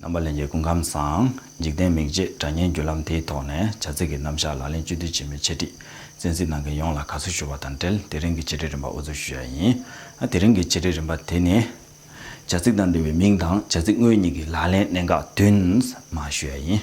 རྣམ་པ་ལེན་གྱི་སྐུ་ཁམས་བཟང། འཇིག་རྟེན་མིག་འབྱེད་དགྲ་གཉེན་བརྒྱུད་ལམ་དེའི་ཐོག་ནས་བྱ་ཚིག་གི་རྣམ་གཞག་ལག་ལེན་བཅོས་སྡུད་བྱེད་མིན་འཆད་ཁྲིད་བཙན་གཟིགས་གནང་མཁན་ཡོངས་ལ་དགའ་བསུ་ཞུ་བ་དང་འབྲེལ་དེ་རིང་གི་འཆད་ཁྲིད་རིམ་པ་དབུ་འཛུགས་ཞུ་ཡ་ཡིན། དེ་རིང་གི་འཆད་ཁྲིད་རིམ་པ་དེ་ནི། བྱ་ཚིག་དང་འབྲེལ་བའི་མིང་དང་བྱ་ཚིག་དངོས་གཉིས་ཀྱི་ལག་ལེན་གནད་འགག་བསྟུན་མ་ཞུ་ཡ་ཡིན།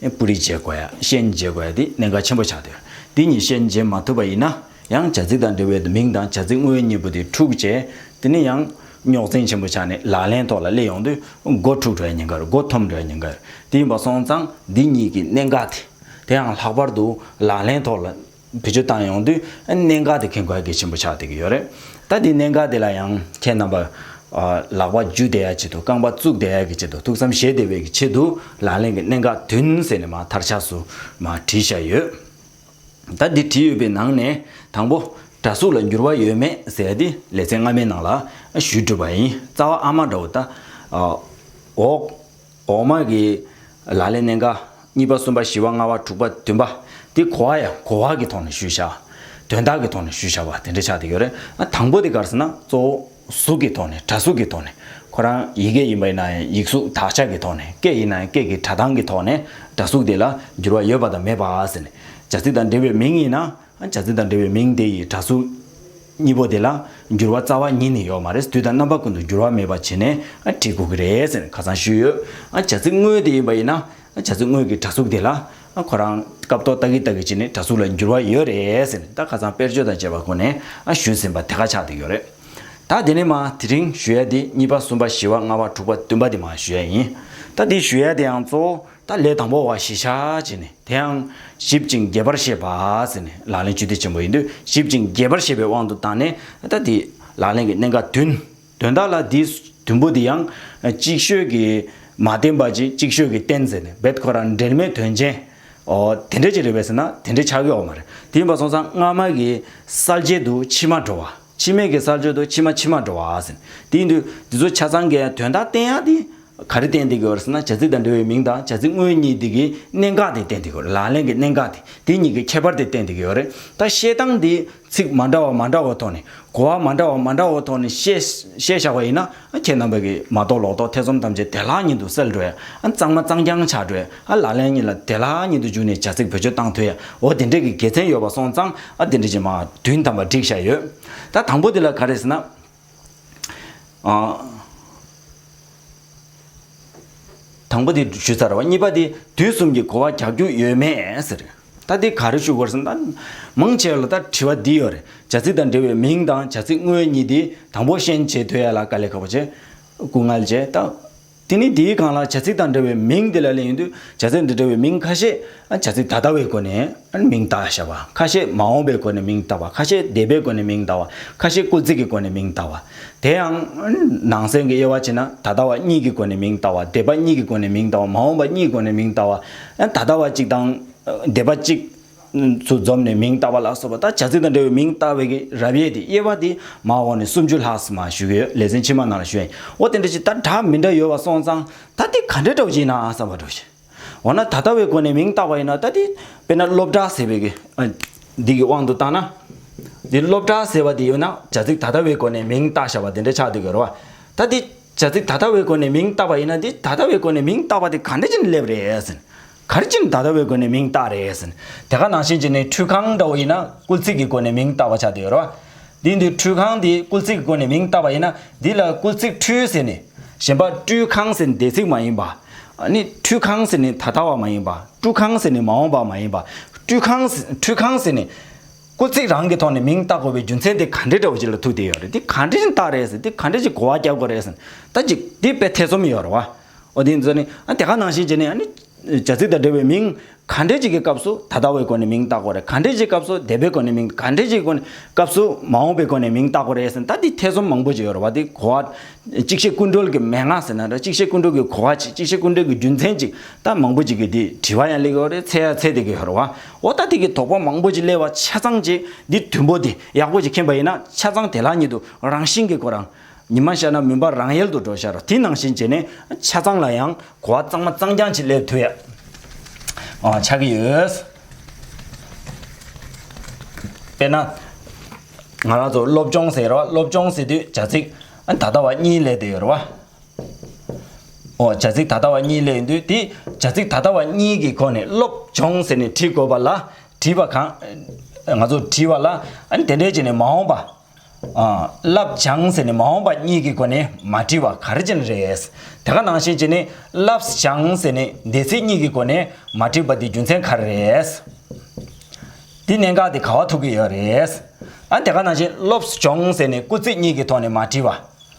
སྤུ་རིས་འབྱེད་དགོས། ཤན་འབྱེད་དགོས་ཏེ་གནད་འགག་ཆེན་པོ་ཆགས་དོན། འདི་གཉིས་ཤན་འབྱེད་མ་ཐུབ་པ་ཡིན་ན། ཡང་བྱ་ཚིག་དང་འབྲེལ་བའི་མིང་དང་བྱ་ཚིག་དངོས་གཉིས་པོ་དེ་འཁྲུག་རྗེས། དེ་ནི་ཡང། རྙོག་འཛིང་ཆེན་པོ་ཆགས་ནས་ལག་ལེན་ཐོག་ལ་སླེབས་ཡོང་དུས། མགོ་འཁྲུག་འདྲའི་ཉེན་ཁར་མགོ་འཐོམ་འདྲའི་ཉེན་ཁར་དེ་ཡིན་པ་སོང་ཙང་འདི་གཉིས་ཀྱི་གནད་འགག་དེ། དེའང་ལྷག་པར་དུ་ལག་ལེན་ཐོག་ལ་བེད་སྤྱོད་བཏང་ཡོང་དུས་གནད་འགག་དེ་ཁེ་གོ་གེ་ཆེན་པོ་ཆགས་བསྡད་ཀྱི་ཡོད་རེད། ད་དེ་གནད་འགག་དེ་ལ་ཡང་ཁྱེད་རྣམ་པ། ལག་པ་རྒྱུ་བསྡད་ཡ་ཆེད་དུ་རྐང་པ་བཙུགས་བསྡད་ཡ་གི་ཆེད་དུ་ཐུགས་བསམ་བཞེས་བསྡད་པའི་གི་ཆེད་དུ་ལག་ལེན་གྱི་གནད་འགག་དུན་ཟེར་ནས་མ་མཐར་ཆགས་སུ་མ་བྲིས་བཞག་ཡོད། ད་འདི་བྲིས་ཡོད་པའི་ནང་ནས་དང་པོ་དྲ་གཟུགས་ལ་འགྱུར་བ་ཡོད་མེད་ཟེར་དེ་ལེ་ཚན་སྔ་མའི་ནང་ལ་ཞུས་གྲུབ་པ་ཡིན་རྩ་བ་ཨ་མ་འདྲ་བོ་ད། འོག། འོག་མ་གི། ལ་ལས་གནས་འགའ། གཉིས་པ་གསུམ་པ་བཞི་བ་ལྔ་བ་དྲུག་པ་བདུན་པ། དེ་གོ་བ་ཡང་གོ་བ་གི་ཐོག་ནས་ཞུས་བྱ། དོན་དག་གི་ཐོག་ནས་ཞུས་བྱ་བ་དེ་འདྲ་ཆགས་དེ་ཡོད་རེད། དང་པོ་དེ་གར་ཟེར་ན་གཙོ་བོ་གཟུགས་ཀྱི་ཐོག་ནས་སྒྲ་གཟུགས་ཀྱི་ཐོག་ནས། ཁོ་རང་ཡི་གེ་ཡིན་པ་ཡིན་ན་ཡང་ཡིག་གཟུགས་དག་ཆ་གི་ཐོག་ནས་སྐད་ཡིན་ན་ཡང་སྐད་ཀྱི་སྒྲ་གདངས་ཀྱི་ཐོག་ནས་སྒྲ་གཟུགས་དེ་ལ་འགྱུར་བ་ཡོད་པ་དང་མེད་པ་ཟེར། བྱ་ཚིག་དང་འབྲེལ་བའི་མིང་ཡིན་ན། བྱ་ཚིག་དང་འབྲེལ་བའི་མིང་དེ་ཡིས་སྒྲ་གཟུགས། གཉིས་པོ་དེ་ལ་འགྱུར་བ་རྩ་བ་ཉིད་ནི་ཡོད་མ་རེད་དུས་དང་རྣམ་པ་ཀུན་ཏུ་འགྱུར་བ་མེད་པ་བྱས་ནས་བྲིས་དགོས་ཀྱི་རེད་ཟེར་ཁ་སང་ཞུས་ཡོད། བྱ་ཚིག་དངོས་དེ་ཡིན་པ་ཡིན་ན་བྱ་ཚིག་དངོས་ཀྱི་དྲ་ཚུགས་དེ་ལ་ཁོ་རང་སྐབས་ཐོག་ལྟ་གི་ལྟ་གི་བྱས་ནས་དྲ་ཚུགས་ལ་འགྱུར་བ་ཡོད་རེད་ཟེར་ནས་ད་ཁ་སང་དཔེར་བརྗོད་དང་བཅས་པ་ཁོ་ནས་ཞུས་ཟིན་པ་དེ་ཁ་ཆགས་འདུག་ཡོད་རེད། ད་དེ་ནས་མ་དེ་རིང་ཞུ་ཡ་དེ་གཉིས་པ་གསུམ་པ་བཞི་བ་ལྔ་བ་དྲུག་པ་བདུན་པ་དེ་མ་ཞུ་ཡ་ཡིན། ད་དེ་ཞུ་ཡ་དེའང་གཙོ་བོ་ད་ལས་དང་པོ་བ་ཞི་བྱ་བྱས་ནས་དེའང་ཞིབ་ཅིང་རྒྱས་པར་བཤད་པ་ཟེར་ནས་ལག་ལེན་སྤྱི་ཏི་ཆེན་པོ་ཡིན་དུས་ཞིབ་ཅིང་རྒྱས་པར་བཤད་པའི་དབང་དུ་བཏང་ནས་ད་དེ་ལག་ལེན་གྱི་གནད་འགག་དོན། དོན་དག་ལ་དེའི་དུམ་བུ་དེ་ཡང་ཅིག་ཤོས་ཀྱིས་མ་བསྟན་པ་ཅིག་ཅིག་ཤོས་ཀྱིས་བསྟན་ཟེར་ནས་བེད་ཁོ་ར་འབྲེལ་མེད་དོན་ཅན། ཨོ། དེ་འདྲ་ཅིག་རེད་བས་ཟེར་ན་དེ་འདྲའི་ཆ་གས་འོག་མ་རེད་དེ་ཡིན་པ་སོང་ཙང་སྔ་མ་གི་གསལ་རྒྱལ་དུ་ཕྱི་མ་འགྲོ་བ། འཆི་མེད་ཀྱི་སར་བྱོན་དུ་ཕྱི་མ་ཕྱི་མར་འགྲོ་བ་ཟིན། དེའི་དུས་དེ་ཚོ་ཆ་ཚང་གི་དོན་དག་བསྟན་ཡ་དེ། ག་རེ་བསྟན་དེ་གི་འོད་ཟེར་ན་བྱ་ཚིག་དང་འབྲེལ་བའི་མིང་དང་བྱ་ཚིག་དངོས་གཉིས་དེ་གི་གནད་འགག་དེ་བསྟན་དེ་གི་ལག་ལེན་གྱི་གནད་འགག་དེ་དེ་གཉིས་ཀྱི་ཁྱད་པར་དེ་བསྟན་དེ་གི་རེད་ད། བཤད་སྟངས་དེ་ཚིག་མ་འདྲ་བ་མ་འདྲ་བ་ཐོག་ནས་གོ་བ་མ་འདྲ་བ་མ་འདྲ་བ་ཐོག་ནས་བཤད་བཞག་པ་ཡིན་ན། ཁྱེད་རྣམ་པ་གིས་མ་རྟོགས་ལོག་རྟོག་ཐེ་ཚོམ་ཐམས་ཅད་བདེ་ལྷག་ཉིད་དུ་སེལ་འགྲོ་ཡ། གཙང་མ་གཙང་རྐྱང་བྱ་འགྲོ་ཡ། ལག་ལེན་གཉིས་ལ་བདེ་ལྷག་ཉིད་དུ་འཇུག་ནས་བྱ་ཚིག་བོད་ཆོས་བཏང་ཐོས་ཡ། འོ་དེ་འདྲས་ཀྱི་དགེ་མཚན་ཡོད་པ་སོང་ཙང་དེ་འདྲས་ཀྱི་མ། དུས་དམ་པ་འགྲིག་བཞག་ཡོད། ད་དང་པོ་དེ་ལ་ག་རེ་ཟེར་ན། དང་པོ་དེ་ཞུས་ཚར་བ་གཉིས་པ་དེ་དུས་གསུམ་གྱི་གོ་བ་རྒྱག་རྒྱུ་ཡོད་མེད་ཟེར། ད་འདི་ག་རེ་ཞུ་དགོས་སམ། མང་ཆེ་བ་ལ་ད་དྲི་བ་འདི་ཡོད་རེད། བྱ་ཚིག་དང་འབྲེལ་བའི་མིང་དང་བྱ་ཚིག་དངོས་གཉིས་འདི་དང་པོ་ཤན་འབྱེད་འདོད་ཡ་ལ་དཀའ་ལས་ཁག་པོ་ཆེ། སྐུ་ངལ་ཆེ། ད་དེ་ནི་འདིའི་གང་ལ་བྱ་ཚིག་དང་འབྲེལ་བའི་མིང་འདི་ལ་གླེང་ཡོད་དུས་བྱ་ཚིག་འདི་འབྲེལ་བའི་མིང་ཁ་ཤས་བྱ་ཚིག་ད་ལྟ་བའི་སྒོ་ནས་མིང་བཏགས་བྱ་བ། ཁ་ཤས་མ་འོངས་པའི་སྒོ་ནས་མིང་བཏགས་པ་ཁ་ཤས་འདས་པའི་སྒོ་ནས་མིང་བཏགས་བ་ཁ་ཤས་སྐུ་ཚིག་གི་སྒོ་ནས་མིང་བཏགས་བ། དེ་ཡང། ནང་གསེས་ཀྱི་དབྱེ་བ་བྱེད་ན་ད་ལྟ་བ་གཉིས་ཀྱི་སྒོ་ནས་མིང་བཏགས་བ་འདས་པ་གཉིས་ཀྱི་སྒོ་ནས་མིང་བཏགས་བ་མ་འོངས་པ་གཉིས་སྒོ་ནས་མིང་བཏགས་བ། ད་ལྟ་བ་གཅིག་དང། འདས་པ་གཅིག། སུ་འཛོམས་ནས་མིང་བཏགས་པ་ལགས་སོ། བ་དག་བྱ་ཚིག་དང་འབྲེལ་བའི་མིང་བཏགས་པའི་རབ་དབྱེ་དེ་དབྱེ་བ་དེ་མ་འོངས་ནས་སུམ་ཅུ་ལྷག་སམ་བཞུགས་ཡོད་ལེ་ཚན་ཕྱི་མ་ནང་ལ་བཞུགས་ཡོད་འོ་དེ་འདྲ་ཞིག་ད་གྲགས་མི་འདྲ་ཡོད་བ་སོང་ཙང་ད་དེ་ག་འདྲ་གྲགས་ཀྱི་ཡིན་ནའང་བསམ་པ་འགྲོ་ཞིག། འོ་ན་ད་ལྟ་བའི་སྒོ་ནས་མིང་བཏགས་པ་ཡིན་ན་ད་དེ་དཔེར་ན་སློབ་གྲྭ་ཟེར་བའི་འདི་གི་དབང་དུ་བཏང་ན། འདི་སློབ་གྲྭ་ཟེར་བ་དེ་ཡོད་ན་བྱ་ཚིག་ད་ལྟ་བའི་སྒོ་ནས་མིང་བཏགས་བྱ་བ་དེ་འདྲ་ཆགས་འདུག་གི་རེད་བ། ད་དེ། བྱ་ཚིག་ད་ལྟ་བའི་སྒོ་ནས་མིང་བཏགས་པ་ཡིན་ན་དེ་ད་ལྟ་བའི་སྒོ་ནས་མིང་བཏགས་པ་དེ་ག་འདྲ་ཅན་སླེབས་རེད། ག་རེ་ཅན་ད་ལྟ་བའི་སྒོ་ནས་མིང་བཏགས་རེད། དེ་ག་ནང་བཞིན་གྱི་ནི་འཁྲུལ་གང་འདྲ་བོ་ཡིན་ན་སྐུལ་ཚིག་གི་སྒོ་ནས་མིང་བཏགས་པ་བྱ་དེའི་རོ། དེའི་འདུས་འཁྲུལ་གང་དེ་སྐུལ་ཚིག་གི་སྒོ་ནས་མིང་བཏགས་པ་ཡིན་ན་དེ་ལ་སྐུལ་ཚིག་འཁྲུལ་ཟེར་ནས། གཞན་པ་སྤྲུལ་གང་ཟེར་ནི་འདས་ཚིག་མ་ཡིན་པ། ནི་འཁྲུལ་གང་ཟེར་ནི་ད་ལྟ་བ་མ་ཡིན་པ་སྤྲུལ་གང་ཟེར་ནི་མ་འོངས་པ་མ་ཡིན་པ་སྤྲུལ་གང་འཁྲུལ་གང་ཟེར་ནི། སྐུ་ཚིག་རང་གི་ཐོག་ནས་མིང་བཏགས་དགོས་པའི་རྒྱུ་མཚན་དེ་ག་འདྲེ་འདྲ་བོ་ཅིག་ལ་ཐུག་བསྡད་ཡོད་རེད་དེ་ག་འདྲེ་བདག་རེད་ཟེར་དེ་ག་འདྲེ་ཅིག་གོ་བ་རྒྱག་དགོས་རེད་ཟེར་ད་ཅིག་དེ་དཔེ་ཐེ་ཚོམ་ཡོད་རེད་བ། ཨོ་དེ་ཚོ་ནི་ཨ་དེ་ག་ནང་བཞིན་བྱས་ནས་ཨ་ནི། བྱ་ཚིག་དང་འབྲེལ་བའི་མིང་ག་འདྲེ་ཅིག་གི་སྐབས་སུ་ད་ལྟ་བའི་སྒོ་ནས་མིང་བཏགས་དགོས་རེད་ག་འདྲེ་ཅིག་སྐབས་སུ་འདས་པའི་སྒོ་ནས་མིང་ག་འདྲེ་ཅིག་གི་སྐབས་སུ་མ་འོངས་པའི་སྒོ་ནས་མིང་བཏགས་དགོས་རེད་ཟེར་ད་དེ་ཐེ་ཚོམ་མང་པོ་ཅིག་ཡོད་རེད་བ་དེ་གོ་བ། གཅིག་བཤད་ཀུན་གྲོལ་གྱི་མན་ངག་ཟེར་ན་འདྲ་གཅིག་བཤད་ཀུན་གྲོལ་གྱི་གོ་བ་གཅིག་བཤད་ཀུན་གྲོལ་གྱི་རྒྱུ་མཚན་ཅིག་ད་མང་པོ་ཅིག་གིས་དེ་དྲི་བ་ཡང་གླེགས་ཡོད་རེད་འཚལ་ཡང་འཚལ་བསྡད་ཀྱི་ཡོད་རེད་བ། འོ་ད་ཐིག་གི་དོགས་པ་མང་པོ་ཅིག་གླེང་བ་ཆ་ཚང་ཅིག་འདི་མཐུན་པོ་དེ་ཡག་པོ་ཅིག་མཁྱེན་པ་ཡིན་ན་ཆ་ཚང་དེ་ལག་གཉིས་དུ་རང་བཞིན་གྱིས་གོ་རང་ཉིད་མ་ཤར་ན་མུན་པ་རང་ཡལ་དུ་འགྲོ་ཤར་དེ་ནང་བཞིན་བྱས་ནས་ཆ་ཚང་ལ་ཡང་གོ་བ་གཙང་མ་གཙང་རྐྱང་ཅིག་སླེབས་ཐུབ་ཡག་ཆགས་ཀྱི་ཡོད། དཔེར་ན། ང་རང་ཚོ་སློབ་སྦྱོང་ཟེར་བ་སློབ་སྦྱོང་ཟེར་དུས་བྱ་ཚིག་ད་ལྟ་བ་གཉིས་ལས་དེ་རེད་བ། བྱ་ཚིག་ད་ལྟ་བ་གཉིས་ལས་འདུས་ཏེ། བྱ་ཚིག་ད་ལྟ་བ་གཉིས་ཀྱི་སྒོ་ནས་སློབ་སྦྱོང་ཟེར་ནས་བྲིས་དགོས་པ་ལ། བྲིས་པ་གང། ང་ཚོ་བྲིས་བ་ལ། དེ་འདྲའི་བྱས་ནས་མ་འོངས་པ། བསླབ་བྱང་ཟེར་ནས་མ་འོངས་པ་གཉིས་ཀྱི་སྒོ་ནས་མ་བྲིས་བ་ག་རེ་ཅན་རེད། དེ་ག་ནང་བཞིན་བྱས་ནས་བསླབས་བྱང་ཟེར་ནས་འདས་ཚིག་གཉིས་ཀྱི་སྒོ་ནས་མ་བྲིས་པ་དེ་རྒྱུ་མཚན་ག་རེ་རེད། དེ་གནད་འགག་དེ་ག་བ་ཐུག་གི་ཡོད་རེད། དེ་ག་ནང་བཞིན་སློབ་སྦྱོང་ཟེར་ནས་སྐུ་ཚིག་གཉིས་ཀྱི་ཐོག་ནས་མ་བྲིས་བ།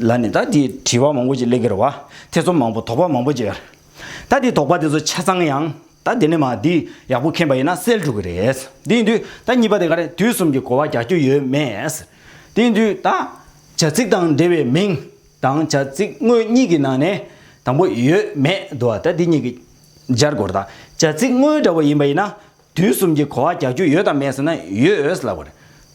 ལ་ནི་ད་དེའི་དྲི་བ་མང་པོ་ཅིག་ལས་ཀྱི་རུ་བ་ཐེ་ཚོམ་མང་པོ་དོགས་པ་མང་པོ་ཅིག་ད་དེའི་དོགས་པ་དེ་ཚོ་ཆ་ཚང་ཡང་ད་དེ་ནས་མ་དེ་ཡག་པོ་མཁྱེན་པ་ཡིན་ན་སེལ་འགྲོ་གི་རེད་དེ་ཡིན་དུས་ད་གཉིས་པ་དེ་ག་རེད་དུས་གསུམ་གྱི་གོ་བ་རྒྱག་རྒྱུ་ཡོད་མེད་དེ་ཡིན་དུས་ད་བྱ་ཚིག་དང་འབྲེལ་བའི་མིང་དང་བྱ་ཚིག་དངོས་གཉིས་ཀྱི་ནང་ནས་དང་པོ་ཡོད་མེད་དུ་བ་ད་དེ་གཉིས་ཀྱི་སྦྱར་སྐོར་དང་བྱ་ཚིག་དངོས་འདྲ་བ་ཡིན་པ་ཡིན་ན་དུས་གསུམ་གྱི་གོ་བ་རྒྱག་རྒྱུ་ཡོད་དམ་མེད་ཟེར་ན་ཡོད་འོས་ལབ་པ་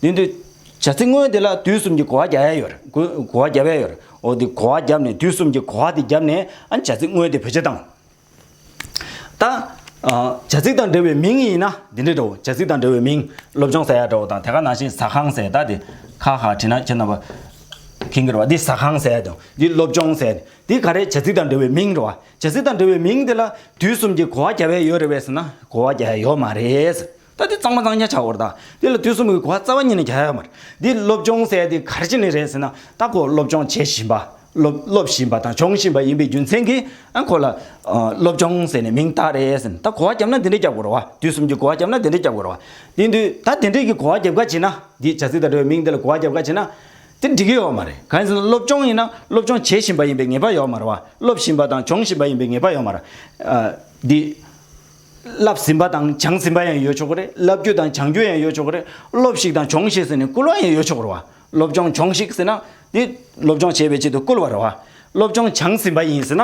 རེད། དེ་འདུག་བྱ་ཚིག་དངོས་དེ་ལ་དུས་གསུམ་གྱི་གོ་བ་རྒྱག་ཡ་ཡོད་རེད། གོ་བ་རྒྱབ་ཡ་ཡོད་རེད། འོ་དེ་གོ་བ་རྒྱབ་ནས་དུས་གསུམ་གྱི་གོ་བ་དེ་རྒྱབ་ནས་ཨ་བྱ་ཚིག་དངོས་དེ་བེད་སྤྱོད་བཏང། ད་བྱ་ཚིག་དང་འབྲེལ་བའི་མིང་ཡིན་ན་དེ་འདྲས་འདྲའོ། བྱ་ཚིག་དང་འབྲེལ་བའི་མིང་སློབ་སྦྱོང་ཟེར་ཡ་འདྲའོ་དང་དེ་ག་ནང་བཞིན་ཟ་ཁང་ཟེར་ད་དེ་ཁ་ཁ་བྲིས་ན་ཁྱེད་རྣམ་པ་ཁེངས་གི་རེད་བ། འདི་ཟ་ཁང་ཟེར་ཡ་འདྲའོ། འདི་སློབ་སྦྱོང་ཟེར་ཡ་འདྲའོ། འདི་ག་རེ་བྱ་ཚིག་དང་འབྲེལ་བའི་མིང་རེད་བ། བྱ་ཚིག་དང་འབྲེལ་བའི་མིང་དེ་ལ་དུས་གསུམ་གྱི་གོ་བ་རྒྱ་བས་ཡོད་རེད་བས་ཟེར་ན་གོ་བ་རྒྱ་ཡོད་མ་རེད། ད་དེ་གཙང་མ་གཙང་རྒྱ་ཆ་བོར་ད་དེ་ལ་དུས་གསུམ་གྱི་གོ་བ་རྩ་བ་ཉིད་ནས་རྒྱ་ཡོད་མ་རེད། འདི་སློབ་སྦྱོང་གསལ་ཏེ་གར་བྱེད་ནི་རེད་ཟེར་ན་རྟག་གོ་སློབ་སྦྱོང་བྱེད་བཞིན་པ། སློབ་སློབ་བཞིན་པ་དང་སྦྱོང་བཞིན་པ་ཡིན་པའི་རྒྱུ་མཚན་གྱིས་ཨ་ཁོ་ལ། སློབ་སྦྱོང་ཟེར་ནས་མིང་བཏགས་རེད་ཟེར་ན་ད་གོ་བ་རྒྱབ་ན་འདི་འདྲས་རྒྱབ་དགོས་ར་བ་དུས་གསུམ་གྱི་གོ་བ་རྒྱབ་ན་འདི་འདྲས་རྒྱབ་དགོས་ར་བ། དེ་དུས་ད་དེ་འདྲས་ཀྱི་གོ་བ་རྒྱབ་ག་བྱེད་ན་འདི་བྱ་ཚིག་དང་འབྲེལ་བའི་མིང་དེ་ལ་གོ་བ་རྒྱབ་ག་བྱེད་ན། དེ་འགྲིག་གི་ཡོད་མ་རེད། གང་ཡིན་ཟེར་ན་སློབ་སྤྱོང་ཡིན་ན་སློབ་སྤྱོང་བྱེད་བཞིན་པ་ཡིན་པའི་ངེས་པ་ཡོད་མ་རེད་བ། སློབ་བཞིན་པ་དང་སྦྱོང་བཞིན་པ་ཡིན་པའི་ངེས་པ་ཡོད་མ་རེད། འདི་བསླབས་ཟིན་པ་དང་སྦྱངས་ཟིན་པ་ཡང་ཡོད་ཆོག་གི་རེད། བསླབ་རྒྱུ་དང་སྦྱང་རྒྱུ་ཡང་ཡོད་ཆོག་གི་རེད། སློབས་ཤིག་དང་སྦྱོང་ཤིག་ཟེར་ནས་སྐུལ་བ་ཡང་ཡོད་ཆོག་གི་རེད་བ། སློབ་སྦྱོང་སྦྱོང་ཤིག་ཟེར་ན་དེ་སློབ་སྦྱོང་བྱེད་པའི་ཆེད་དུ་སྐུལ་བ་རེད་བ། སློབ་སྦྱོང་སྦྱངས་ཟིན་པ་ཡིན་ཟེར་ན་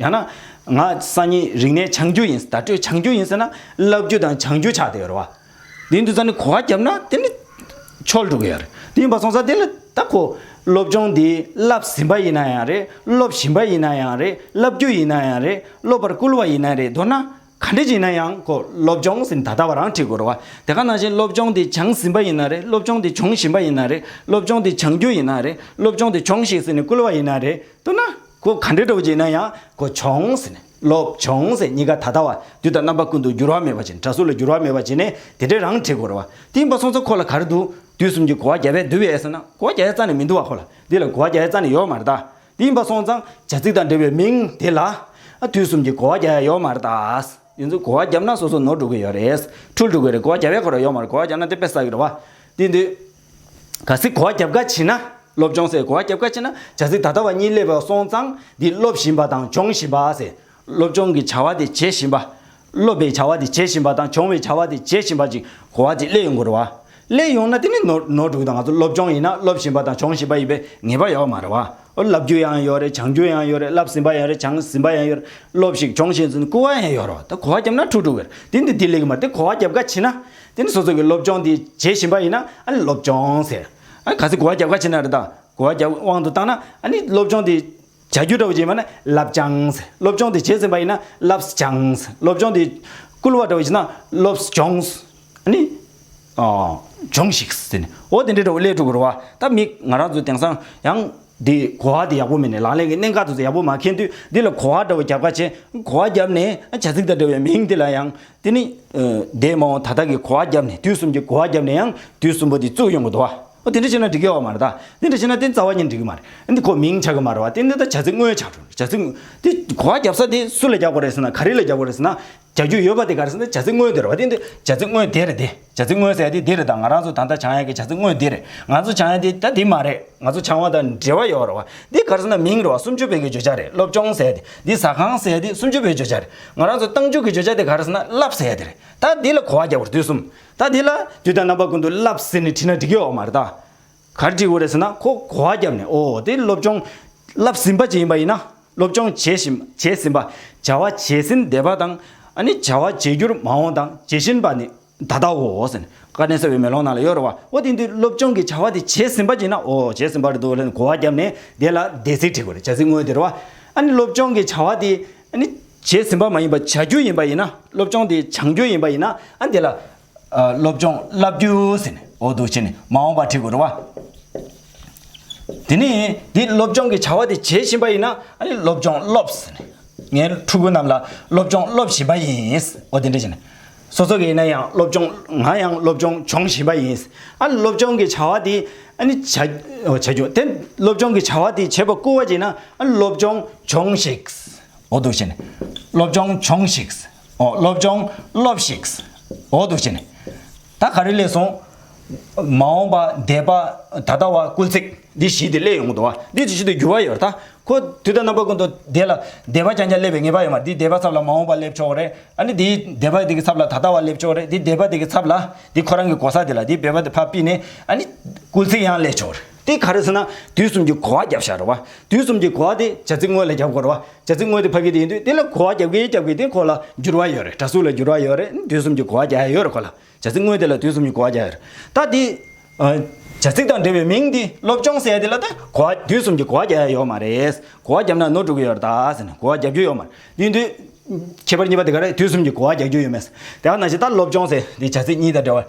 ཡང་ན། ང་སང་ཉིན་རིག་གནས་འཆང་རྒྱུ་ཡིན་བརྡ་སྤྲོད་འཆང་རྒྱུ་ཡིན་ཟེར་ན་བསླབ་རྒྱུ་དང་འཆང་རྒྱུ་ཆགས་ཏེ་ཡོད་རེད་བ། དེ་འདུག་ས་ནས་གོ་བ་བརྒྱབ་ན་དེ་ནི་ཆོལ་འགྲོ་གི་ཡོད་རེད། དེ་ཡིན་པ་སོང་ས་དེ་ལ་ད་གོ། སློབ་སྦྱོང་འདི་བསླབ་ཟིན་པ་ཡིན་ན་ཡང་རེད་སློབ་བཞིན་པ་ཡིན་ན་ཡང་རེད་བསླབ་རྒྱུ་ཡིན་ན་ཡང་རེད་སློབ་པར་བསྐུལ་བ་ཡིན་ན་རེད་མདོར་ན་ག་འདྲི་ཞིག་ཡིན་ན་ཡང་གོ་སློབ་སྦྱོང་ཟིན་ད་ལྟ་བ་རང་ཁྲིད་དགོས་རེད་བ། དེ་ག་ནང་བཞིན་སློབ་སྦྱོང་འདི་འཆང་ཟིན་པ་ཡིན་ན་རེད་སློབ་སྦྱོང་འདི་འབྱོང་བཞིན་པ་ཡིན་ན་རེད་སློབ་སྦྱོང་འདི་འཆང་རྒྱུ་ཡིན་ན་རེད་སློབ་སྦྱོང་འདི་འབྱོང་ཞིག་ཟེར་ནས་བསྐུལ་བ་ཡིན་ན་རེད་མདོར་ན། ཁོ་ག་འདྲའི་གྲོགས་ཅིག་ན་ཡང་ཁོ་བྱུང་ཟེར་ནས་ལོབས་བྱུང་ཟེར་གཉིས་ཀ་ད་ལྟ་བ་དུས་དང་རྣམ་པ་ཀུན་ཏུ་འགྱུར་བ་མེད་པ་བྱས་ནས་གྲྭ་ཟུར་ལ་འགྱུར་བ་མེད་པ་བྱས་ནས་དེ་འདྲའི་རང་བྲིས་གོར་བ་གཏིང་པ་སོང་ཚ་ཁོ་ལ་ག་རེ་འདུག་དུས་གསུམ་གྱི་གོ་བ་རྒྱ་བས་འདུལ་བའི་ཟེར་ན་གོ་བ་རྒྱ་ཡའི་རྩ་ནས་མི་འདུག་བ་ཁོ་ལ་འདི་ལ་གོ་བ་རྒྱ་ཡའི་རྩ་ནས་ཡོག་མར་གདའ་གཏིང་པ་སོང་ཙང་བྱ་ཚིག་དང་འབྲེལ་བའི་མིང་དེ་ལ་དུས་གསུམ་གྱི་གོ་བ་རྒྱ་ཡ་ཡོག་མར་གདའ། དེ་ཚོ་གོ་བ་རྒྱབ་ན་སོ་སོ་ནོར་འགྲོ་གི་ཡོག་རེད་འཁྲུལ་འགྲོ་གི་རེད་གོ་བ་རྒྱ་བས་གོ་ར་ཡོག་མར་གོ་བ་རྒྱབ་ན་དེ་དཔེ་ཟ་གི་རེད་བ་དེ་འདི། ག་ཟི་གོ་བ་རྒྱབ་ཁ་བྱེད་ན་སློབ་སྦྱོང་ཟེར་གོ་བ་རྒྱབ་ཁ་བྱེད་ན་བྱ་ཟི་ད་ལྟ་བ་གཉིས་སླེབས་པའོ་སོང་ཙང་འདི་སློབ་བཞིན་པ་དང་སྦྱོང་བཞིན་པ་ཟེར་སློབ་སྦྱོང་གི་བྱ་བ་དེ་བྱེད་བཞིན་པ། སློབ་པའི་བྱ་བ་དེ་བྱེད་བཞིན་པ་དང་སྦྱོང་བའི་བྱ་བ་དེ་བྱེད་བཞིན་པ་ཅིག་གོ་བ་དེ་སླེབས་ཡོང་དགོས་རེད་བ། སླེབས་ཡོང་ན་དེ་ནི་ནོར་འགྲུག་དང་ང་ཚོ་སློབ་སྦྱོང་ཡིན་ན་སློབ་བཞིན་པ་དང་སྦྱོང་བཞིན་པ་ཡིན་པའི་ངེས་པ་ཡོད་མ་རེད་བ། བསླབ་རྒྱུ་ཡང་ཡོད་རེད་སྦྱང་རྒྱུ་ཡང་ཡོད་རེད་བསླབ་ཟིན་པ་ཡང་རེད་སྦྱང་ཟིན་པ་ཡང་ཡོད་རེད་སློབ་ཞིག་སྦྱོང་བཞིན་ཟིན་སྐུར་བ་ཡང་ཡོད་རེད་བ་ད་གོ་བ་རྒྱབ་ན་འཁྲུག་འགྲོ་གི་རེད་དེ་འདི་དེ་ལེགས་མ་རེད་དེ་གོ་བ་རྒྱབ་ཁ་བྱེད་ན། དེ་ནི་སོ་སོ་གི་སློབ་སྦྱོང་དེ་བྱེད་བཞིན་པ་ཡིན་ན་ཨ་ནི་སློབ་སྦྱོང་ཟེར། གལ་སྲིད་གོ་བ་རྒྱབ་ཁ་ཕྱེ་ན་རེ་ད། གོ་བ་རྒྱབ་དབང་དུ་བཏང་ན་ཨ་ནི་སློབ་སྦྱོང་དེ་བྱ་རྒྱུ་འདྲ་བོ་ཅིག་ཡིན་པ་ན་བསླབ་སྦྱང་ཟེར། སློབ་སྦྱོང་དེ་བྱས་ཟིན་པ་ཡིན་ན་བསླབ་སྦྱང་ཟེར། སློབ་སྦྱོང་དེ་བསྐུལ་བ་འདྲ་བོ་ཅིག་ན་སློབ་སྦྱོང་ཟེར། ཨ་ནི། སྦྱོང་ཞིག་ཟེར། འོ་དེ་འདྲའི་འདྲ་བོ་སླད་དྲུག་གི་རུ་བ་ད་མིག་ང་རང་ཚོ་དེང་སང་ཡང། འདི་གོ་བ་འདི་ཡག་པོ་མིན་ནས་ལག་ལེན་གྱི་གནད་འགག་ཏུ་ཡག་པོ་མ་འཁེལ་དུས་འདི་ལ་གོ་བ་འདྲ་བོ་རྒྱབ་ཁ་བྱས། གོ་བ་རྒྱབ་ནས་བྱ་ཚིག་དང་འདྲ་བའི་མིང་འདི་ལ་ཡང། དེ་ནི། འདས་མ་འོངས་ད་ལྟ་གི་གོ་བ་རྒྱབ་ནས་དུས་གསུམ་གྱི་གོ་བ་རྒྱབ་ནས་ཡང་དུས་གསུམ་པོ་འདི་བཙུགས་ཡོང་གི་འདུག་བ། དེ་འདྲ་བྱས་ན་འགྲིག་གི་ཡོད་མ་རེད་དཱ། དེ་འདྲ་བྱས་ན་དེ་རྩ་བ་ཉིད་འགྲིག་གི་མ་རེད། འདི་ཁོ་མིང་ཆགས་ཀྱི་མ་རེད་བ། དེ་འདི་ད་བྱ་ཚིག་དངོས་ཆགས་འགྲོ། བྱ་ཚིག། འདི་གོ་བ་རྒྱབ་ས་དེ་སུ་ལ་རྒྱབ་དགོས་རེད་ཟེར་ན་ག་རེ་ལ་རྒྱབ་དགོས་རེད་ཟེར་ན། བྱ་རྒྱུ་ཡོད་པ་དེ་གར་ཟེར་ན་བྱ་ཚིག་དངོས་དེར་བ་དེ་འདི་བྱ་ཚིག་དངོས་དེར་དེ་བྱ་ཚིག་དངོས་ཟེར་ཡ་དེ་འདི་རེད་ད་ང་རང་ཚོ་ད་ལྟ་བྱང་ཡ་གི་བྱ་ཚིག་དངོས་འདི་རེད་ང་ཚོ་བྱང་ཡ་དེ་ད་དེ་མ་རེད་ང་ཚོ་བྱང་བ་དང་འབྲེལ་བ་ཡོད་རེད་བ་འདི་གར་ཟེར་ན་མིང་རེད་བ་སུམ་ཅུ་བོད་ཀྱི་བརྗོད་བྱ་རེད་སློབ་སྦྱོང་ཟེར་དེ་འདི་ཟ་ཁང་ཟེར་དེ་སུམ་ཅུ་བོད་བརྗོད་བྱ་རེད་ང་རང་ཚོ་ཏང་ཕྱུག་གི་བརྗོད་བྱ་དེ་གར་ཟེར་ན་རླབས་ཟེར་དེ་རེད་ད་འདི་ལ་གོ་བ་རྒྱག་པར་དུས་གསུམ་ད་འདི་ལ་དུས་དང་རྣམ་པ་ཀུན་ཏུ་རླབས་ཟེར་ནས་བྲིས་ན་འགྲིག་གི་ཡོད་མ་རེད་ད། གར་འགྲིག་འོ་རེད་ཟེར་ན་ཁོ་གོ་བ་བརྒྱབ་ནས་ཨོ་དེ་སློབ་སྦྱོང། བསླབ་ཟིན་པ་ཅིག་ཡིན་པ་ཡིན་ན། སློབ་སྦྱོང་བྱས་བཞིན་བྱས་ཟིན་པ། བྱ་བ་བྱས་ཟིན་བསྡད་པ་དང། ཨ་ནི་བྱ་བ་བྱེད་རྒྱུར་མ་འོངས་དང་བྱེད་བཞིན་པ་ནི་ད་ལྟ་འོ་ཟེར་ནས་བཀའ་དྲིན་གསོལ་བའི་མེ་ལོང་ནང་ལ་གཡོ་རུ་བ་འོ་དེ་འདི་སློབ་སྦྱོང་གི་བྱ་བ་དེ་བྱས་ཟིན་པ་ཅིག་ཡིན་ན་ཨོ་བྱས་ཟིན་པ་རེད་འདུག་ལན་གོ་བ་བརྒྱབ་ནས་བསྡད་ལ་བསྡད་ཚིག་བྲིས་དགོས་རེད་བྱ་ཚིག་དངོས་དེ་རུ་བ། ཨ་ནི་སློབ་སྦྱོང་གི་བྱ་བ་དེ། ཨ་ནི། བྱས་ཟིན་པ་མ་ཡིན་པར་བྱ་རྒྱུ་ཡིན་པ་ཡིན་ན་སློབ་སྦྱོང་དེ་བྱང་རྒྱུ་ཡིན་པ་ཡིན་ན་ཨ་དེ་ལ། སློབ་སྦྱོང་བསླབ་རྒྱུ་ཟེར་ནས་འོག་ཏུ་བྱས་ནས་མ་འོངས་པར་བྲི་དགོས་རེད་བ། དེ་ནས་འདི་སློབ་སྦྱོང་གི་བྱ་བ་དེ་བྱེད་བཞིན་པ་ཡིན་ན་ཨ་ནི་སློབ་སྦྱོང་སློབས་ཟེར་ནས་ངའི་ཕྲུ་གུ་རྣམས་ལ་སློབ་སྦྱོང་སློབ་བཞིན་པ་ཡིན་འོ་དེ་འདྲ་བྱས་ནས་སོ་སོ་ག་ཡིན་ན་ཡང་སློབ་སྦྱོང་ང་ཡང་སློབ་སྦྱོང་སྦྱོང་བཞིན་པ་ཡིན། ཨ་ནི་སློབ་སྦྱོང་གི་བྱ་བ་དེ་ཨ་ནི་བྱ་བྱ་རྒྱུ་དེ་སློབ་སྦྱོང་གི་བྱ་བ་དེ་བྱེད་པར་སྐུལ་བ་བྱས་ན་ཨ་ནི་སློབ་སྦྱོང་སྦྱོང་ཤིག། འོག་ཏུ་བྱས་ནས་སློབ་སྦྱོང་སྦྱོང་ཤིག། ཨོ་སློབ་སྦྱོང་སློབས་ཤིག། འོ་འདུག་བྱས་ནས། ད་ག་རེ་ལས་སོང། མ་འོངས་པ་འདས་པ་ད་ལྟ་བ་སྐུལ་ཚིག་འདི་བཞི་དེ་སླེབས་ཡོང་གི་འདུག་བ་འདི་ཇི་བཞིན་དུ་འགྱུར་བ་ཡོད་ད། ཁོ་དུས་ད་རྣམ་པ་ཀུན་ཏུ་འདས་ལ་འདས་པ་རྐྱང་རྐྱང་སླེབས་པའི་ངེས་པ་ཡོད་མ་རེད་འདི་འདས་པ་ཚབ་ལ་མ་འོངས་པ་སླེབས་ཆོག་རེད་ཨ་ནི་འདི་འདས་པ་དེ་ཚབ་ལ་ད་ལྟ་བ་སླེབས་ཆོག་རེད་འདི་འདས་པ་དེ་ཚབ་ལ་འདི་ཁོ་རང་གི་གོ་ས་དེ་ལ་འདི་འབད་པ་དེ་ཕ་སྤིས་ནས་ཨ་ནི་སྐུལ་ཚིག་ཡང་སླེབས་ཆོག་རེད། དེ་ག་རེ་ཟེར་ན་དུས་གསུམ་གྱི་གོ་བ་བརྒྱབ་ཤག་རེད་བ། དུས་གསུམ་གྱི་གོ་བ་དེ་བྱ་ཚིག་དངོས་ལ་བརྒྱབ་དགོས་རེད་བ། བྱ་ཚིག་དངོས་དེ་ཕ་གི་དེ་ཡིན་དུས་དེ་ལ་གོ་བ་བརྒྱབ་གི་བརྒྱབ་གི་དེ་ཁོ་ལ་འགྱུར་བ་ཡོད་རེད་གྲ་སུ་ལ་འགྱུར་བ་ཡོད་རེད་དུས་གསུམ་གྱི་གོ་བ་བརྒྱ་ཡོད་རེད་ཁོ་ལ་བྱ་ཚིག་དངོས་དེ་ལ་དུས་གསུམ་གྱི་གོ་བ་བརྒྱ་ཡོད་རེད་ད་དེ། བྱ་ཚིག་དང་འབྲེལ་བའི་མིང་དེ་སློབ་སྦྱོང་ཟེར་དེ་ལ་ད་གོ་བ་དུས་གསུམ་གྱི་གོ་བ་བརྒྱ་ཡ་ཡོད་མ་རེད། གོ་བ་བརྒྱབ་ན་ནོར་འགྲོ་གི་ཡོད་རེད་ད་ཟེར་ན་གོ་བ་བརྒྱབ་རྒྱུ་ཡོད་མ་རེད་ཡིན་དུས། ཁྱད་པར་གཉིས་པ་དེ་ག་རེད་དུས་གསུམ་གྱི་གོ་བ་བརྒྱག་རྒྱུ་ཡོད་མེད་ཟེར་དེ་ཡང་ན་བཞིན་ད་སློབ་སྦྱོང་ཟེར་དེ་བྱ་ཚིག་གཉིས་དང་འབྲེལ་བ།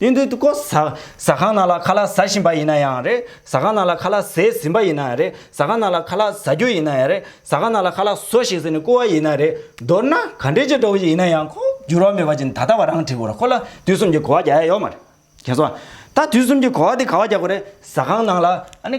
དེ་འདུག་ཏུ་ཀོ་ཟ་ཁང་ནང་ལ་ཁ་ལག་ཟ་བཞིན་པ་ཡིན་ན་ཡང་རེད་ཟ་ཁང་ནང་ལ་ཁ་ལག་ཟས་ཟིན་པ་ཡིན་ན་ཡང་རེད་ཟ་ཁང་ནང་ལ་ཁ་ལག་ཟ་རྒྱུ་ཡིན་ན་ཡང་རེད་ཟ་ཁང་ནང་ལ་ཁ་ལག་ཟོ་ཞིག་ཟེར་ནས་བསྐུར་བ་ཡིན་ན་རེད་མདོར་ན་ག་འདྲའི་ཆེ་དྲགས་པ་ཞིག་ཡིན་ན་ཡང་ཁོ་འགྱུར་བ་མེད་པ་བཞིན་ད་ལྟ་བ་རང་བྲིས་དགོས་ར་ཁོ་ལ་དུས་གསུམ་གྱི་གོ་བ་རྒྱག་ཡ་ཡོད་མ་རེད་ཁྱེད་སོང་ད་དུས་གསུམ་གྱི་གོ་བ་དེ་ག་བ་རྒྱག་དགོས་རེད་ཟ་ཁང་ནང་ལ་ཨ་ནི།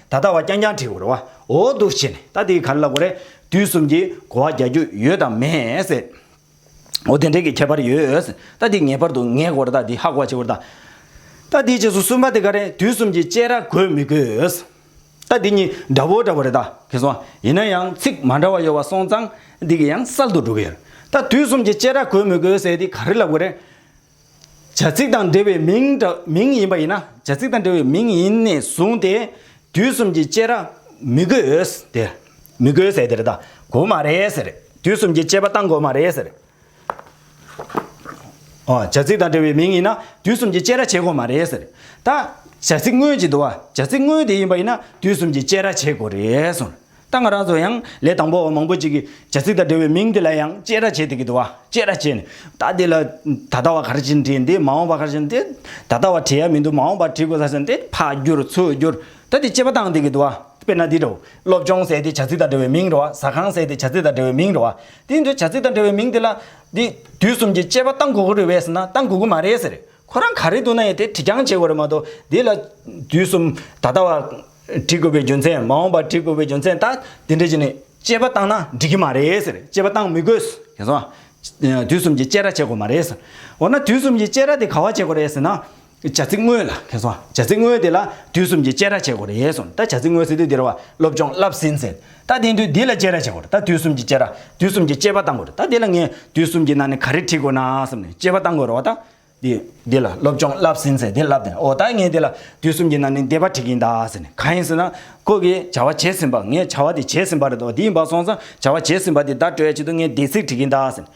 ད་ལྟ་བ་རྐྱང་རྐྱང་བྲིས་འོ་རེ་བ་འོ་འདུག་བྱས་ནས་ད་དེའི་ག་རེ་ལ་གོ་རེ་དུས་གསུམ་གྱིས་གོ་བ་རྒྱག་རྒྱུ་ཡོད་དམ་མེད། འོ་དེ་འདྲའི་གི་ཁྱད་པར་ཡོད། ད་དེའི་ངེས་པར་དུ་ངས་གོ་རེ་ད་དེའི་ཧ་གོ་བ་བྱས་འོ་རེ་ད། ད་དེའི་རྗེས་སུ་གསུམ་པ་དེ་ག་རེ་དུས་གསུམ་གྱིས་དཔྱད་ར་དགོས་མི་དགོས། ད་དེ་གཉིས་འདྲ་བོ་འདྲ་བོ་རེ་ད་གི་སོང་ཡིན་ན་ཡང་ཚིག་མ་འདྲ་བ་ཡོད་བ་སོང་ཙང་དེ་གི་ཡང་གསར་དུ་འགྲོ་གི་ཡོད་རེ་ད་དུས་གསུམ་གྱིས་དཔྱད་ར་དགོས་མི་དགོས་ཟེར་དེ་ག་རེ་ལ་གོ་རེ། བྱ་ཚིག་དང་འབྲེལ་བའི་མིང་མིང་ཡིན་པ་ཡིན་ན་བྱ་ཚིག་དང་འབྲེལ་བའི་མིང་ཡིན་ནས་བཟུང་སྟེ་དུས་གསུམ་གྱི་དཔྱད་ར་མི་དགོས་ཟེ་མི་དགོས་ཟེ་དེར་ད་གོ་མ་རེད་ཟེར་དུས་གསུམ་གྱི་དཔྱད་པ་བཏང་དགོས་མ་རེད་ཟེར། ཨོ་བྱ་ཚིག་དང་འབྲེལ་བའི་མིང་ཡིན་ན་དུས་གསུམ་གྱི་དཔྱད་ར་བྱེད་དགོས་མ་རེད་ཟེར། ད་བྱ་ཚིག་དངོས་ཀྱི་འདུ་བ་བྱ་ཚིག་དངོས་དེ་ཡིན་པ་ཡིན་ན་དུས་གསུམ་གྱི་དཔྱད་ར་བྱེད་དགོས་རེད་ཟེར། རྟ་ང་རག་ཚོ་ཡང་ལས་དང་པོ་བ་མང་པོ་ཅིག་གིས་བྱ་ཚིག་དང་འབྲེལ་བའི་མིང་དེ་ལ་ཡང་དཔྱད་ར་བྱེད་དེ་གི་འདུག་བ་དཔྱད་ར་བྱས་ནས་རྟ་དེ་ལ་ད་ལྟ་བ་གར་ཕྱིན་དྲིས་འདི་མ་འོངས་པ་གར་ཕྱིན་དྲིས་ད་ལྟ་བ་དྲིས་ཡ་མི་འདུག་མ་འོངས་པ་དྲིས་དགོས་ས་ཟེར་དེ་ཕག་བསྒྱུར་ཚུར་བསྒྱུར་ད་དེ་དཔྱད་པ་བཏང་དེ་གི་འདུག་བ་དཔེར་ན་འདི་འདྲའོ་སློབ་སྦྱོང་ཟེར་དེ་བྱ་ཚིག་དང་འབྲེལ་བའི་མིང་རེད་བ་ཟ་ཁང་ཟེར་དེ་བྱ་ཚིག་དང་འབྲེལ་བའི་མིང་རེད་བ་དེ་འདྲའི་བྱ་ཚིག་དང་འབྲེལ་བའི་མིང་དེ་ལ་འདི་དུས་གསུམ་གྱི་དཔྱད་པ་བཏང་དགོས་གི་རེད་བས་ཟེར་ན་བཏང་དགོས་གི་མ་རེད་ཟེར། ཁོ་རང་ག་རེ་འདུག་ན་ཡང་དེ་དྲི་རྐྱང་བྱེད་དགོས་རེད་མ་གཏོགས་དེ་ལ་དུས་གསུམ་ད་ལྟ་བ། འདྲི་དགོས་པའི་རྒྱུ་མཚན་མ་འོངས་པ་འདྲི་དགོས་པའི་རྒྱུ་མཚན་ད་དེ་འདྲ་བྱས་ནས་དཔྱད་པ་བཏང་ན་འགྲིག་གི་མ་རེད་ཟེར་དཔྱད་པ་བཏང་མི་དགོས་ཟེར་ཟེར་ན། དུས་གསུམ་གྱི་དཔྱད་ར་བྱེད་དགོས་མ་རེད་ཟེར། འོ་ན་དུས་གསུམ་གྱི་དཔྱད་ར་དེ་ག་བ་བྱེད་དགོས་རེད་ཟེར་ན། བྱ་ཚིག་དངོས་ལ་ཁེལ་སོང་བྱ་ཚིག་དངོས་དེ་ལ་དུས་གསུམ་གྱི་དཔྱད་ར་བྱེད་དགོས་རེད་སོང་ད་བྱ་ཚིག་དངོས་ཟེར་དུས་དེ་ར་བ་སློབ་སྦྱོང་བསླབས་ཟིན་ཟེར། ད་དེང་དུས་འདི་ལ་དཔྱད་ར་བྱེད་དགོས་རེད་ད་དུས་གསུམ་གྱི་དཔྱད་ར་དུས་གསུམ་གྱི་དཔྱད་པ་བཏང་དགོས་རེད་ད་དེ་ལ་ངས་དུས་གསུམ་གྱི་ནང་ནས་ག་རེ་ཁྲིད་དགོས་ན་བསམ་ནས་དཔྱད་པ་བཏང་དགོས་རོགས་ད། འདི་འདི་ལ་སློབ་སྦྱོང་བསླབས་ཟིན་ཟེར་དེ་བསླབས་དེ་འོ་ད་ངས་དེ་ལ་དུས་གསུམ་གྱི་ནང་ནས་འདི་པ་ཁྲིད་ཀྱིན་ད་ཟེར་ནས་གང་ཡིན་ཟེར་ན་ཁོ་གི་བྱ་བ་བྱེད་ཟིན་པ་ངས་བྱ་བ་དེ་བྱེད་ཟིན་པ་རེད་དོ་འདི་ཡིན་པ་སོང་ཙང་བྱ་བ་བྱེད་ཟིན་པ་དེ་ད་སྤྲོད་ཡ་བྱེད་དུ་ངས་འདི་ཚིག་ཁྲིད་ཀྱིན་ད་ཟེར་ནས་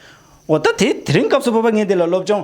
འོ་ད་དེ་དེ་རིང་སྐབས་སུ་བབ་པ་ངས་དེ་ལ་སློབ་སྦྱོང་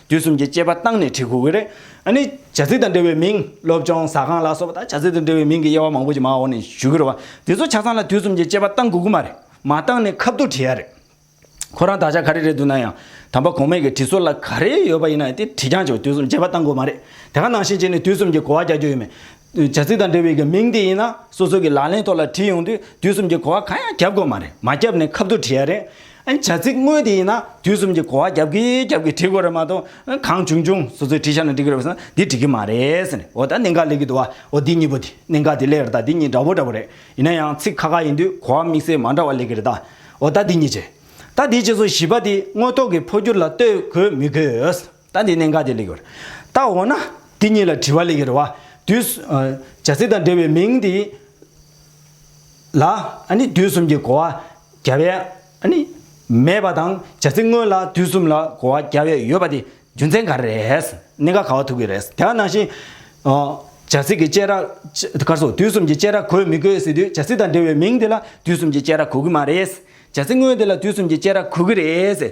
དུས་གསུམ་གྱི་སྐྱེས་པ་བཏང་ནས་བྲིས་ཁུག་རེ་ནི་བྱ་ཚིག་དང་འབྲེལ་བའི་མིང། སློབ་སྦྱོང་ཟ་ཁང་ལ་སོགས་པ་དག་བྱ་ཚིག་དང་འབྲེལ་བའི་མིང་གི་དབྱེ་བ་མང་པོ་ཅིག་མ་འོག་ནས་བཞུགས་ཡོད་པ། དེ་ཚོ་ཆ་ཚང་ལ་དུས་གསུམ་གྱི་སྐྱེས་པ་བཏང་དགོས་ཀྱི་མ་རེད། མ་བཏང་ནས་ཁ་བསྡུར་བྲིས་ཡ་རེད། ཁོ་རང་དག་ཆ་ག་རེ་རེད་འདུག་ན་ཡང། དམ་པ་གོང་མས་གི་བྲིས་སྲོལ་ལ་ག་རེ་ཡོད་པ་ཡིན་ན་ཡང་དེ་བྲིས་རྐྱང་ཆོག་དུས་གསུམ་སྐྱེས་པ་བཏང་དགོས་མ་རེད། དེ་ག་ནང་བཞིན་བྱས་ནས་དུས་གསུམ་གྱི་གོ་བ་རྒྱག་རྒྱུ་ཡོད་མེད། བྱ་ཚིག་དང་འབྲེལ་བའི་གི་མིང་དེ་ཡིན་ན་སོ་སོ་གི་ལག་ལེན་ཐོག་ལ་བྲིས་ཡོང་དུས་དུས་གསུམ་གྱི་གོ་བ་གང་ཡང་རྒྱབ་དགོས་མ་རེད་མ་རྒྱབ་ནས་ཁབ་ཏུ་བྲིས་ཡ་རེད་ཨ་བྱ་ཚིག་དངོས་དེ་ཡིན་ན་དུས་གསུམ་གྱི་གོ་བ་རྒྱབ་གི་རྒྱབ་གི་བྲིས་དགོས་རེད་མ་གཏོགས་གང་བྱུང་བྱུང་སོ་སོས་བྲིས་ཤར་ན་འགྲིག་གི་རེད་བསམ་ན་འདི་འགྲིག་གི་མ་རེད་འོ་ད་གནད་འགག་ལེགས་ཀྱི་འདུག་ཨོ་འདི་གཉིས་པོ་དེ་གནད་འགག་དེ་ལེགས་རེད་ད་འདི་གཉིས་འདྲ་བོ་འདྲ་བོ་རེད་ཡིན་ན་ཡང་ཚིག་ཁ་ཁ་ཡིན་དུས་གོ་བ་དམིགས་བསལ་མ་འདྲ་བ་ལེགས་ཀྱི་རེད་ད་འོ་ད་འདི་གཉིས་བྱས་ད་འདི་བྱས་སོ་བཞི་པ་དེ་དངོས་ཐོག་གི་འཕོ་འགྱུར་ལ་ལྟོས་དགོས་མི་དགོས། ད་འདི་ནས་འགའ་དེ་ལེགས་པར་བརྟག་འོ་ན། འདི་གཉིས་ལ་དྲི་བ་ལེགས་ཀྱི་རེ་བ། དུས། བྱ་ཚིག་དང་འབྲེལ་བའི་མིང་འདི། ལ། ནི་དུས་གསུམ་གྱི་གོ་བ། བརྒྱ་པའི། ནི། མེད་པ་དང་བྱ་ཚིག་དངོས་ལ་དུས་གསུམ་ལ་གོ་བ་བརྒྱ་པའི་ཡོད་པ་དེ་རྒྱུ་མཚན་ག་རེ་རེད། གནད་འགག་ག་བ་ཐུག་གི་རེད། དེ་ག་ནང་བཞིན། བྱ་ཚིག་གི་དཔྱད་ར། ཀར་སོགས་དུས་གསུམ་གྱི་དཔྱད་ར་གོ་མི་དགོས་ཟེར་དུས་བྱ་ཚིག་དང་འབྲེལ་བའི་མིང་དེ་ལ་དུས་གསུམ་གྱི་དཔྱད་ར་གོ་གི་མ་རེད། བྱ་ཚིག་དངོས་དེ་ལ་དུས་གསུམ་གྱི་དཔྱད་ར་གོ་གི་རེད།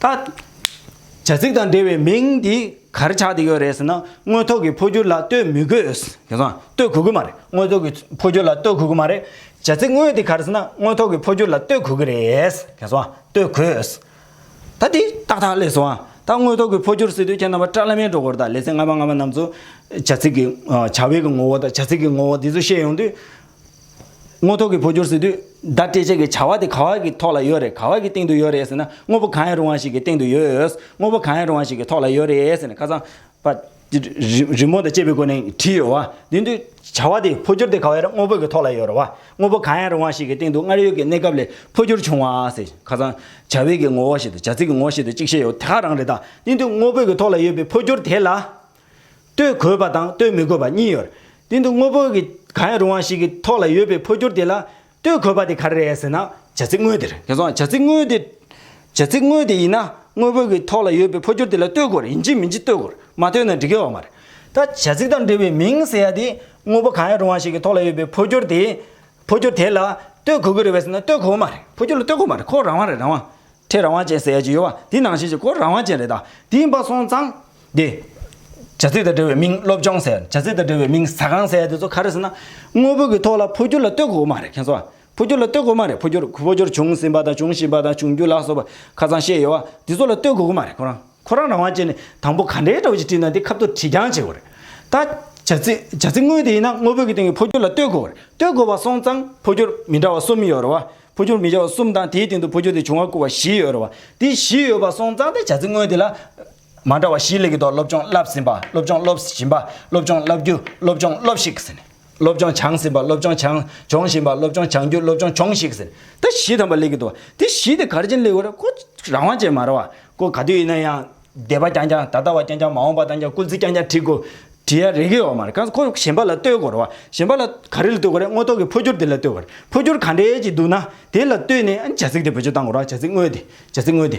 ད། བྱ་ཚིག་དང་འབྲེལ་བའི་མིང་འདི་གར་ཆགས་ཏེ་ཡོད་རེད་ཟེར་ན་དངོས་ཐོག་གི་འཕོ་འགྱུར་ལ་ལྟོས་མི་དགོས། དེང་སང་ལྟོས་གོ་གི་མ་རེད་དངོས་ཐོག་གི་འཕོ་འགྱུར་ལ་ལྟོས་གོ་གི་མ་རེད། བྱ་ཚིག་དངོས་འདི་གར་ཟེར་ན་དངོས་ཐོག་གི་འཕོ་འགྱུར་ལ་ལྟོས་གོ་གི་རེད། དེང་སང་ལྟོས་གོས། ད་འདི་ཏག་ཏག་ལས་སོ། ད་དངོས་ཐོག་གི་འཕོ་འགྱུར་ཟེར་དུས་ཁྱེད་རྣམ་པ་སྐྲ་ལྷ་མའི་སྒྲོ་གོར་དང་ལེ་ཚན་ལྔ་པ་ལྔ་པ་རྣམས་ཚོ། བྱ་ཚིག་གི་བྱ་བའི་གི་ངོ་བོ་དང་བྱ་ཚིག་གི་ངོ་བོ་འདི་ཚོ་བཤད་ཡོང་དུས། དངོས་ཐོག་གི་བོད་སྐྱོར་ཟེར་དུས་བརྡ་སྤྲད་བྱེད་ཀྱི་བྱ་བ་དེ་ག་བ་གི་ཐོག་ལ་ཡོད་རེད་ག་བ་གི་སྟེང་དུ་ཡོད་རེད་ཟེར་ན་དངོས་པོ་གང་ཡང་རུང་བ་ཞིག་གི་སྟེང་དུ་ཡོད་དངོས་པོ་གང་ཡང་རུང་བ་ཞིག་གི་ཐོག་ལ་ཡོད་རེད་ཟེར་ནས་ཁ་ཚང་པ། རི་མོ་དང་བཅས་པའི་སྒོ་ནས་བྲིས་ཡོད་དེ་འདུག་བྱ་བ་དེ་བོད་སྐྱོར་དེ་ག་བའི་དངོས་པོ་གི་ཐོག་ལ་ཡོད་རེད་བ་དངོས་པོ་གང་ཡང་རུང་བ་ཞིག་གི་སྟེང་དུ་སྔར་ཡོད་ཀྱི་གནས་སྐབས་ལས་བོད་སྐྱོར་བྱུང་བ་ཟེར་ཁ་ཚང་བྱ་བའི་གི་ངོ་བོ་ཞིག་དང་བྱ་ཚིག་གི་ངོ་བོ་ཞིག་དང་གཅིག་ཤེས་ཡོད་དེ་ག་རང་རེད་དང་སྟེང་དུ་དངོས་པོ་གི་ཐོག་ལ་ཡོད་པའི་བོད་སྐྱོར་དེ་ལ། ལྟོས་དགོས་པ་དང་ལྟོས་མི་དགོས་པ་གཉིས་ཡོད། དེ་འདུག་དངོས་པོ་གི་གང་ཡང་རུང་བ་ཞིག་གི་ཐོག་ལ་ཡོད་པའི་འཕོ་འགྱུར་དེ་ལ་ལྟོས་དགོས་པ་དེ་ག་རེ་རེད་ཟེར་ན་བྱ་ཚིག་དངོས་དེར། དེ་སོང་བྱ་ཚིག་དངོས་དེ། བྱ་ཚིག་དངོས་དེ་ཡིན་ན་དངོས་པོ་གི་ཐོག་ལ་ཡོད་པའི་འཕོ་འགྱུར་དེ་ལ་ལྟོས་དགོས་རིན་གྱི་མིན་གྱི་ལྟོས་དགོས་མ་ལྟོས་ན་འགྲིག་གི་ཡོད་མ་རེད། ད་བྱ་ཚིག་དང་འབྲེལ་བའི་མིང་ཟེར་ཡ་དེ་དངོས་པོ་གང་ཡང་རུང་བ་ཞིག་གི་ཐོག་ལ་ཡོད་པའི་འཕོ་འགྱུར་དེ། འཕོ་འགྱུར་དེ་ལ་ལྟོས་དགོས་ཀྱི་རེད་བས་ཟེར་ན་ལྟོས་དགོས་མ་རེད་འཕོ་འགྱུར་ལ་ལྟོས་དགོས་མ་རེད་ཁོ་རང་དབང་རེད་རང་དབང། ཁྲེས་རང་དབང་ཅན་ཟེར་ཡ་ཅིག་ཡོད་བ་དེ་ནང་བཞིན་གྱི་ཁོ་རང་དབང་ཅན་རེད་ད་དེ་ཡིན་པ་སོང་ཙང། དེ། བྱ་ཚིག་དང་འབྲེལ་བའི་མིང་སློབ་སྦྱོང་ཟེར། བྱ་ཚིག་དང་འབྲེལ་བའི་མིང་ཟ་ཁང་ཟེར་དེ་ཚོ་ག་རེ་ཟེར་ན། དངོས་པོ་གི་ཐོག་ལ་འཕོ་འགྱུར་ལ་ལྟོས་དགོས་མ་རེད་མཁྱེན་གསོ། འཕོ་འགྱུར་ལ་ལྟོས་དགོས་མ་རེད་འཕོ་འགྱུར་འཕོ་འགྱུར་བྱུང་ཟིན་པ་དང་བྱུང་བཞིན་པ་དང་འབྱུང་འགྱུར་ལ་སོགས་པ་ཁ་ཚང་ཤེས་ཡོད་བ་དེ་ཚོ་ལ་ལྟོས་དགོས་གི་མ་རེད་ཁོ་རང་ཁོ་རང་རང་དབང་བྱས་ནས་དང་པོ་ག་འདྲའི་སྒྲ་བོ་ཞིག་བྲིས་ན་དེ་ཁབ་ཏུ་བྲིས་རྐྱང་བྱེད་དགོས་རེད། ད། བྱ་ཚིག་བྱ་ཚིག་དངོས་དེ་ཡིན་ན་དངོས་པོ་གི་སྟེང་གི་འཕོ་འགྱུར་ལ་ལྟོས་དགོས་རེད་ལྟོས་དགོས་པ་སོང་ཙང་འཕོ་འགྱུར་མི་འདྲ་བ་གསུམ་ཡོད་རེད་བ། འཕོ་འགྱུར་མི་འདྲ་བ་གསུམ་དང་དེའི་སྟེང་དུ་འཕོ་འགྱུར་དེ་བྱུང་བ་བསྐུར་བ་བཞི་ཡོད་རེད་བ། དེ་བཞི་ཡོད་པ་སོང་ཙང་དེ་བྱ་ཚིག་དངོས་དེ་ལ། མ་འདྲ་བ་བཞིའི་ལས་ཀྱི་ཐོག་སློབ་སྦྱོང་བསླབས་ཟིན་པ་སློབ་སྦྱོང་སློབ་བཞིན་པ་སློབ་སྦྱོང་བསླབ་རྒྱུ་སློབ་སྦྱོང་སློབ་ཤིག་ཟིན། སློབ་སྦྱོང་བྱང་ཟིན་པ་སློབ་སྦྱོང་བྱང་སྦྱོང་བཞིན་པ་སློབ་སྦྱོང་བྱང་རྒྱུ་སློབ་སྦྱོང་སྦྱོང་ཤིག་ཟིན། ད་བཞི་ཐམ་པ་ལས་ཀྱི་ཐོག་དེ་བཞི་དེ་གར་ཅན་ལས་ཀྱི་རེ་སྐོ་རང་དབང་ཅན་མ་རེ་བ་སྐོ་ག་དུས་ཡིན་ན་ཡང་སྡེ་པ་རྐྱང་རྐྱང་ད་ལྟ་བ་རྐྱང་རྐྱང་མ་འོངས་པ་དང་རྐྱང་སྐུལ་ཚིག་རྐྱང་རྐྱང་བྲིས་དགོས་བྲིས་ཡ་རེ་གི་ཡོག་མ་རེ་གང་སྐོ་གཞན་པ་ལ་ལྟོས་དགོས་རེ་བ་གཞན་པ་ལ་ག་རེ་ལ་ལྟོས་དགོས་རེ་སྔོ་ཐོག་གི་འཕོ་འགྱུར་དེ་ལ་ལྟོས་དགོས་རེ་འཕོ་འགྱུར་ག་འདྲའི་ཅིག་འདུག་ན་དེ་ལ་ལྟོས་ནས་ཨ་ནི་བྱ་ཚིག་དེ་བོད་ཆོས་བཏང་དགོས་ར་བྱ་ཚིག་དངོས་དེ་བྱ་ཚིག་དངོས་དེ་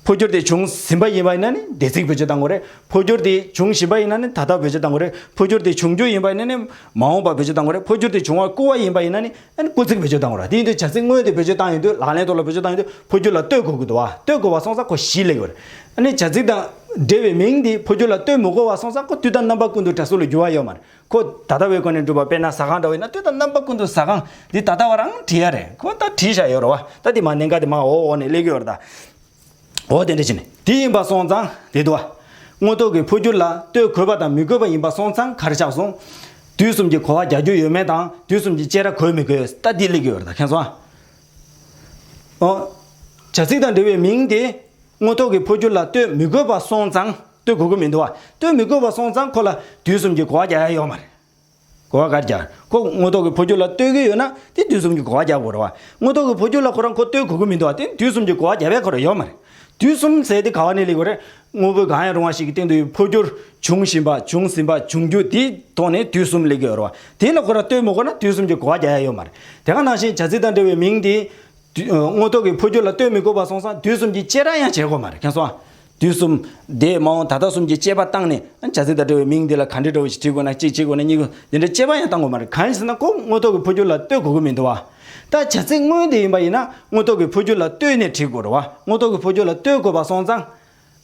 འཕོ་འགྱུར་དེ་བྱུང་ཟིན་པ་ཡིན་པ་ཡིན་ན་ནི་འདས་ཚིག་བོད་སྤྱི་དང་གོ་རེ། འཕོ་འགྱུར་དེ་བྱུང་བཞིན་པ་ཡིན་ན་ནི་ད་ལྟ་བོད་སྤྱི་དང་གོ་རེ། འཕོ་འགྱུར་དེ་འབྱུང་རྒྱུ་ཡིན་པ་ཡིན་ན་ནི་མ་འོངས་པ་བོད་སྤྱི་དང་གོ་རེ། འཕོ་འགྱུར་དེ་བྱུང་བར་སྐུལ་བ་ཡིན་པ་ཡིན་ན་ནི་སྐུལ་ཚིག་བོད་སྤྱི་དང་གོ་རེ། དེ་ཡིན་དུས་བྱ་ཚིག་དངོས་དེ་བོད་སྤྱི་དང་ཡིན་དུས་ལག་ལེན་ཐོག་ལ་བོད་སྤྱི་དང་ཡིན་དུས་འཕོ་འགྱུར་ལ་ལྟོས་གོ་དགོས་དུ་བ་ལྟོས་གོ་བ་སོང་ས་ཁོ་བཞི་ལེགས་ཡོད། ཨ་ནི་བྱ་ཚིག་དང་འབྲེལ་བའི་མིང་དེ་འཕོ་འགྱུར་ལ་ལྟོས་མི་གོ་བ་སོང་ས་ཁོ་དུས་དང་རྣམ་པ་ཀུན་ཏུ་གྲ་སུ་ལ་འགྱུར་བ་ཡོད་མ་རེད། ཁོ་ད་ལྟ་བའི་སྒོ་ནས་སྒྲུབ་པ་དཔེར་ན་ཟ་ཁང་འདྲ་བས་ན་སྟོད་དང་རྣམ་པ་ཀུན་ཏུ་ཟ་ཁང་འདི་ད་ལྟ་བར་འང་བྲིས་ཡ་རེད་ཁོ་ད་བྲིས་བཞག་ཡོད་རོ་བ་ད་དེ་མ་ནེ་འགའ་དེ་མ་འོ་འོག་ནས་གླེགས་ཡོད་ར་ད་འོ་དེ་འདྲ་བྱས་ནས་དེ་ཡིན་པ་སོང་ཙང་དེ་དུ་བ་དངོས་ཐོག་གི་འཕོ་འགྱུར་ལ་ལྟོས་གོས་པ་དང་མི་གོས་པ་ཡིན་པ་སོང་ཙང་གར་ཆགས་སོང་དུས་གསུམ་གྱི་གོ་བ་རྒྱག་རྒྱུ་ཡོད་མེད་དང་དུས་གསུམ་གྱི་དཔྱད་ར་གོས་མི་གོས་ད་དེ་གླེགས་ཡོད་ར་ད་མཁྱེན་སོང་ཨ། བྱ་ཚིག་དང་འབྲེལ་བའི་མིང་དེ་དངོས་ཐོག་གི་འཕོ་འགྱུར་ལ་ལྟོས་མི་གོས་པ་སོང་ཙང། ལྟོས་དགོས་ཀྱི་མི་འདུག་ལྟོས་མི་དགོས་པ་སོང་ཙང་ཁོ་ལ་དུས་གསུམ་གྱི་གོ་བ་རྒྱག་ཡ་ཡོད་མ་རེད། གོ་བ་ག་རེ་རྒྱག། ཁོ་དངོས་ཐོག་གི་ཕོ་རྒྱུད་ལ་ལྟོས་ཀྱི་ཡོད་ན་དེ་དུས་གསུམ་གྱི་གོ་བ་རྒྱག་དགོས་རེད་བ། དངོས་ཐོག་གི་ཕོ་རྒྱུད་ལ་ཁོ་རང་ཁོ་ལྟོས་དགོས་ཀྱི་མི་འདུག་བ་དེ་དུས་གསུམ་གྱི་གོ་བ་རྒྱག་པའི་ཁོ་རང་ཡོད་མ་རེད། དུས་གསུམ་ཟེར་དེ་ག་བ་ནས་ལེགས་པ་རེད། དངོས་པོའི་གང་ཡང་རུང་བ་ཞིག་གི་སྟེང་དུ་ཡོད་པའི་ཕོ་རྒྱུར་བྱུང་བཞིན་པ་བྱུང་ཟིན་པ་འབྱུང་རྒྱུ་དེའི་ཐོག་ནས་དུས་གསུམ་ལེགས་ཀྱི་ཡོད་རེད་བ། དེ་ལ་ཁོ་རང་ལྟོས་མི་དགོས་ན་དུས་གསུམ་གྱི་གོ་བ་རྒྱག་ཡ་ཡོད་མ་རེད། དེ་ག་ནང་བཞིན་བྱ་ཚིག་དང་འབྲེལ་བའི་མིང་དེ། དངོས་ཐོག་གི་འཕོ་འགྱུར་ལ་ལྟོས་མི་དགོས་པར་སོང་ཙང་དུས་གསུམ་གྱི་དཔྱད་ར་ཡང་བྱེད་དགོས་མ་རེད་ཁྱེད་སོང་ཨ། དུས་གསུམ་དེས་མ་འོངས་ད་ལྟ་གསུམ་གྱི་དཔྱད་པ་བཏང་ནས་ཨ་བྱ་ཚིག་དང་འབྲེལ་བའི་མིང་འདི་ལ་ག་འདྲི་འདྲ་བོ་ཞིག་བྲིས་དགོས་ན་གཅིག་བྱེད་དགོས་ན་གཉིས་དགོས་འདི་འདྲའི་དཔྱད་པ་ཡང་བཏང་དགོས་མ་རེད་གང་ཡིན་ཟེར་ན་ཁོ་དངོས་ཐོག་གི་འཕོ་འགྱུར་ལ་ལྟོས་དགོས་ཀྱི་མི་འདུག་བ། ད་བྱ་ཚིག་དངོས་དེ་ཡིན་པ་ཡིན་ན་དངོས་ཐོག་གི་འཕོ་འགྱུར་ལ་ལྟོས་ནས་བྲིས་དགོས་རུང་བ་དངོས་ཐོག་གི་འཕོ་འགྱུར་ལ་ལྟོས་དགོས་པར་སོང་ཙང་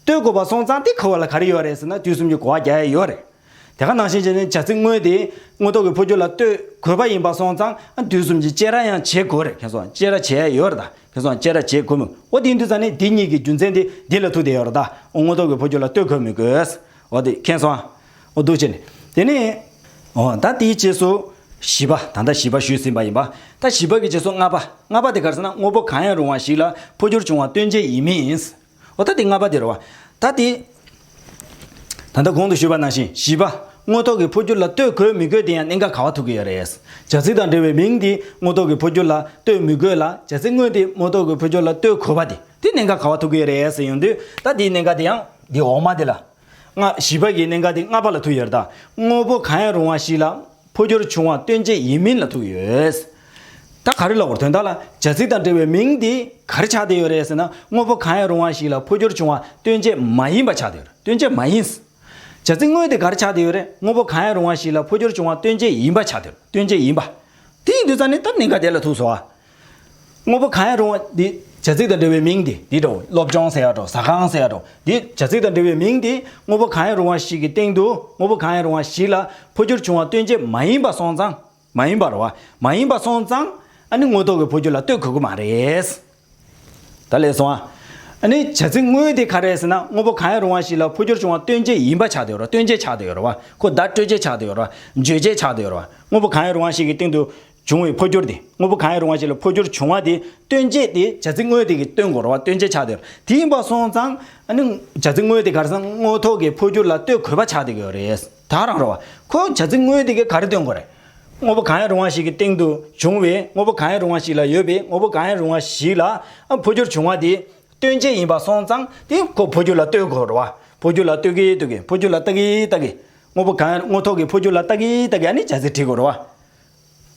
སྟོད་གོ་བ་སོང་ཙང་དེ་ཁུར་བ་ལ་ག་རེ་ཡོད་རེད་ཟེར་ན་དུས་གསུམ་གྱི་གོ་བ་རྒྱ་ཡ་ཡོད་རེད། དེ་ག་ནང་བཞིན་བྱས་ན་བྱ་ཚིག་དངོས་དེས་དངོས་ཐོག་གི་འཕོ་འགྱུར་ལ་སྟོད་གོས་པ་ཡིན་པ་སོང་ཙང་དུས་གསུམ་གྱི་དཔྱད་ར་ཡང་བྱེད་དགོས་རེད་ཁེང་སོང་དཔྱད་ར་བྱེད་ཡ་ཡོད་རེད་ད་ཁེང་སོང་དཔྱད་ར་བྱེད་དགོས་མི་འོ་དེ་ཡིན་དུས་ཙང་ནི་དེ་གཉིས་ཀྱི་རྒྱུ་མཚན་དེ་འདི་ལ་ཐུག་བསྡད་ཡོད་རེད་ད་འོ་དངོས་ཐོག་གི་འཕོ་འགྱུར་ལ་སྟོད་གོས་མི་དགོས་འོ་དེ་ཁེང་སོང་འོ་སྡུག་ཅེ་ནི་དེ་ནི་འོ་ད་དེའི་རྗེས་སུ་བཞི་པ་ད་ལྟ་བཞི་པ་ཞུས་ཟིན་པ་ཡིན་པ་ད་བཞི་པ་གི་རྗེས་སུ་ལྔ་པ་ལྔ་པ་དེ་ག་རེ་ཟེར་ན་དངོས་པོ་གང་ཡང་རུང་བ་ཞིག་ལ་འཕོ་འགྱུར་བྱུང་བ་སྟོན་བྱེད་ཡིན་མིན། འོ་ད་དེ་ལྔ་པ་དེ་རེད་བ། ད་དེ། ད་ལྟ་གོང་དུ་ཞུས་པ་ནང་བཞིན་བཞི་པ། དངོས་ཐོག་གི་འཕོ་འགྱུར་ལ་ལྟོས་དགོས་མི་དགོས་དེ་ཡང་གནད་འགག་ག་བ་ཐུག་གི་ཡོད་རེད། བྱ་ཚིག་དང་འབྲེལ་བའི་མིང་དེ་དངོས་ཐོག་གི་འཕོ་འགྱུར་ལ་ལྟོས་མི་དགོས་ལ་བྱ་ཚིག་དངོས་དེ་དངོས་ཐོག་གི་འཕོ་འགྱུར་ལ་ལྟོས་དགོས་པ་དེ་དེ་གནད་འགག་ག་བ་ཐུག་གི་ཡོད་རེད་ཟེར་ཡོང་དུས་ད་དེའི་གནད་འགག་དེ་ཡང་དེ་འོག་མ་དེ་ལ། ལྔ། བཞི་པ་གི་གནད་འགག་དེ་ལྔ་པ་ལ་ཐུག་ཡོད་རེད་ད། དངོས་པོ་གང་ཡང་རུང་བ་ཞིག་ལ། འཕོ་འགྱུར་བྱུང་བ་སྟོན་བྱེད་ཡིན་མིན་ལ་ཐུག་ཡོད། ད་ག་རེ་ལོག་དོན་དག་ལ་བྱ་ཚིག་དང་འབྲེལ་བའི་མིང་དེ་ག་རེ་ཆགས་བསྡད་ཡོད་རེད་ཟེར་ན་དངོས་པོ་གང་ཡང་རུང་བ་ཞིག་ལ་འཕོ་འགྱུར་བྱུང་བ་སྟོན་བྱེད་མ་ཡིན་པ་ཆགས་བསྡད་ཡོད་རེད་སྟོན་བྱེད་མ་ཡིན། བྱ་ཚིག་དངོས་དེ་ག་རེ་ཆགས་བསྡད་ཡོད་རེད་དངོས་པོ་གང་ཡང་རུང་བ་ཞིག་ལ་འཕོ་འགྱུར་བྱུང་བ་སྟོན་བྱེད་ཡིན་པ་ཆགས་བསྡད་ཡོད་རེད་སྟོན་བྱེད་ཡིན། དེ་ཡིན་དུས་ཙང་ནི་སྟབས་ནི་འགའ་བསྡད་ལ་ཐུག་སོང་བ། དངོས་པོ་གང་ཡང་རུང་བ་དེ་བྱ་ཚིག་དང་འབྲེལ་བའི་མིང་དེ་དེའི་འགྲོའོ། སློབ་སྦྱོང་ཟེར་ཡག་འགྲོ་ཟ་ཁང་ཟེར་ཡག་འགྲོ་དེ་བྱ་ཚིག་དང་འབྲེལ་བའི་མིང་དེ་དངོས་པོ་གང་ཡང་རུང་བ་ཞིག་གི་སྟེང་དུ་དངོས་པོ་གང་ཡང་རུང་བ་ཞིག་ལ་འཕོ་འགྱུར་བྱུང་བ་སྟོན་བྱེད་མ་ཡིན་པ་སོང་ཙང། མ་ཡིན་པར་བ། མ་ཡིན་པ་སོང་ཙང་ཨ་ནི་དངོས་ཐོག་གི་འཕོ་འགྱུར་ལ་ལྟོས་གོ་གི་མ་རེད། ད་ལས་སོང་ཨ། ཨ་ནི་བྱ་ཚིག་དངོས་དེ་ག་རེད་ཟེར་ན་དངོས་པོ་གང་ཡང་རུང་བ་ཞིག་ལ་འཕོ་འགྱུར་བྱུང་བ་སྟོན་བྱེད་ཡིན་པ་ཆགས་དེ་ཡོད་རོ་སྟོན་བྱེད་ཆགས་དེ་ཡོད་རོ་བ་ཁོ་བརྡ་སྤྲོད་བྱེད་ཆགས་དེ་ཡོད་རོ་བརྗོད་བྱེད་ཆགས་དེ་ཡོད་རོ་བ་དངོས་པོ་གང་ཡང་རུང་བ་ཞིག་གི་སྟེང་དུ་བྱུང་བའི་འཕོ་འགྱུར་དེ་དངོས་པོ་གང་ཡང་རུང་བ་ཞིག་ལ་འཕོ་འགྱུར་བྱུང་བ་དེ་སྟོན་བྱེད་དེ་བྱ་ཚིག་དངོས་དེ་གི་སྟོན་གོ་ར་བ་སྟོན་བྱེད་ཆགས་དེ་རེད་དེ་ཡིན་པ་སོང་ཙང་ནི་བྱ་ཚིག་དངོས་དེ་གར་སོང་དངོས་ཐོག་གི་འཕོ་འགྱུར་ལ་ལྟོས་གོ་བ་ཆགས་དེ་གི་རེད་ད་རང་རོ་བ་ཁོ་བྱ་ཚིག་དངོས་དེ་གི་ག་རེ་སྟོན་གོ་རེད་དངོས་པོ་གང་ཡང་རུང་བ་ཞིག་གི་སྟེང་དུ་བྱུང་བའི་དངོས་པོ་གང་ཡང་རུང་བ་ཞིག་ལ་ཡོད་པའི་དངོས་པོ་གང་ཡང་རུང་བ་ཞིག་ལ་འཕོ་འགྱུར་བྱུང་བ་དེ་སྟོན་བྱེད་ཡིན་པ་སོང་ཙང་དེ་ཁོ་འཕོ་འགྱུར་ལ་ལྟོས་གོ་རོ་བ་འཕོ་འགྱུར་ལ་ལྟོས་གི་ལྟོས་གི་འཕོ་འགྱུར་ལ་ལྟ་གི་ལྟ་གི་དངོས་པོ་གང་ཡང་དངོས་ཐོག་གི་འཕོ་འགྱུར་ལ་ལྟ་གི་ལྟ་གི་ནི་བྱ་ཚིག་བྲིས་གོ་རོ་བ།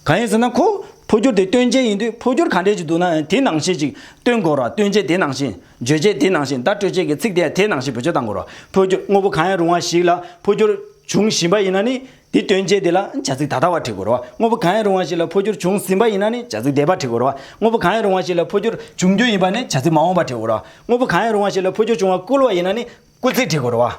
གང་ཡིན་ཟེར་ན་ཁོ་འཕོ་འགྱུར་དེ་སྟོན་བྱེད་ཡིན་དུས་འཕོ་འགྱུར་ག་འདྲས་ཅིག་འདུག་ན་ཡང་དེའི་ནང་བཤད་ཅིག་སྟོན་གོ་ར་སྟོན་བྱེད་དེའི་ནང་བཤད། བརྗོད་བྱེད་དེའི་ནང་བཤད་བརྡ་སྤྲོད་བྱེད་ཀྱི་ཚིག་དེ་ཡང་དེའི་ནང་བཤད་བོད་ཆོས་དང་གོ་ར་འཕོ་འགྱུར་དངོས་པོ་གང་ཡང་རུང་བ་ཞིག་ལ་འཕོ་འགྱུར་བྱུང་བཞིན་པ་ཡིན་ན་ནི་དེ་སྟོན་བྱེད་དེ་ལ་བྱ་ཚིག་ད་ལྟ་བ་བྲི་དགོས་རོ། དངོས་པོ་གང་ཡང་རུང་བ་ཞིག་ལ་འཕོ་འགྱུར་བྱུང་ཟིན་པ་ཡིན་ན་ནི་བྱ་ཚིག་འདས་པ་བྲི་དགོས་རོ། དངོས་པོ་གང་ཡང་རུང་བ་ཞིག་ལ་འཕོ་འགྱུར་འབྱུང་རྒྱུ་ཡིན་པ་ནི་བྱ་ཚིག་མ་འོངས་པ་བྲི་དགོས་རོ། དངོས་པོ་གང་ཡང་རུང་བ་ཞིག་ལ་འཕོ་འགྱུར་བྱུང་བ་བསྐུལ་བ་ཡིན་ན་ནི་བསྐུལ་ཚིག་བྲི་དགོས་རོ།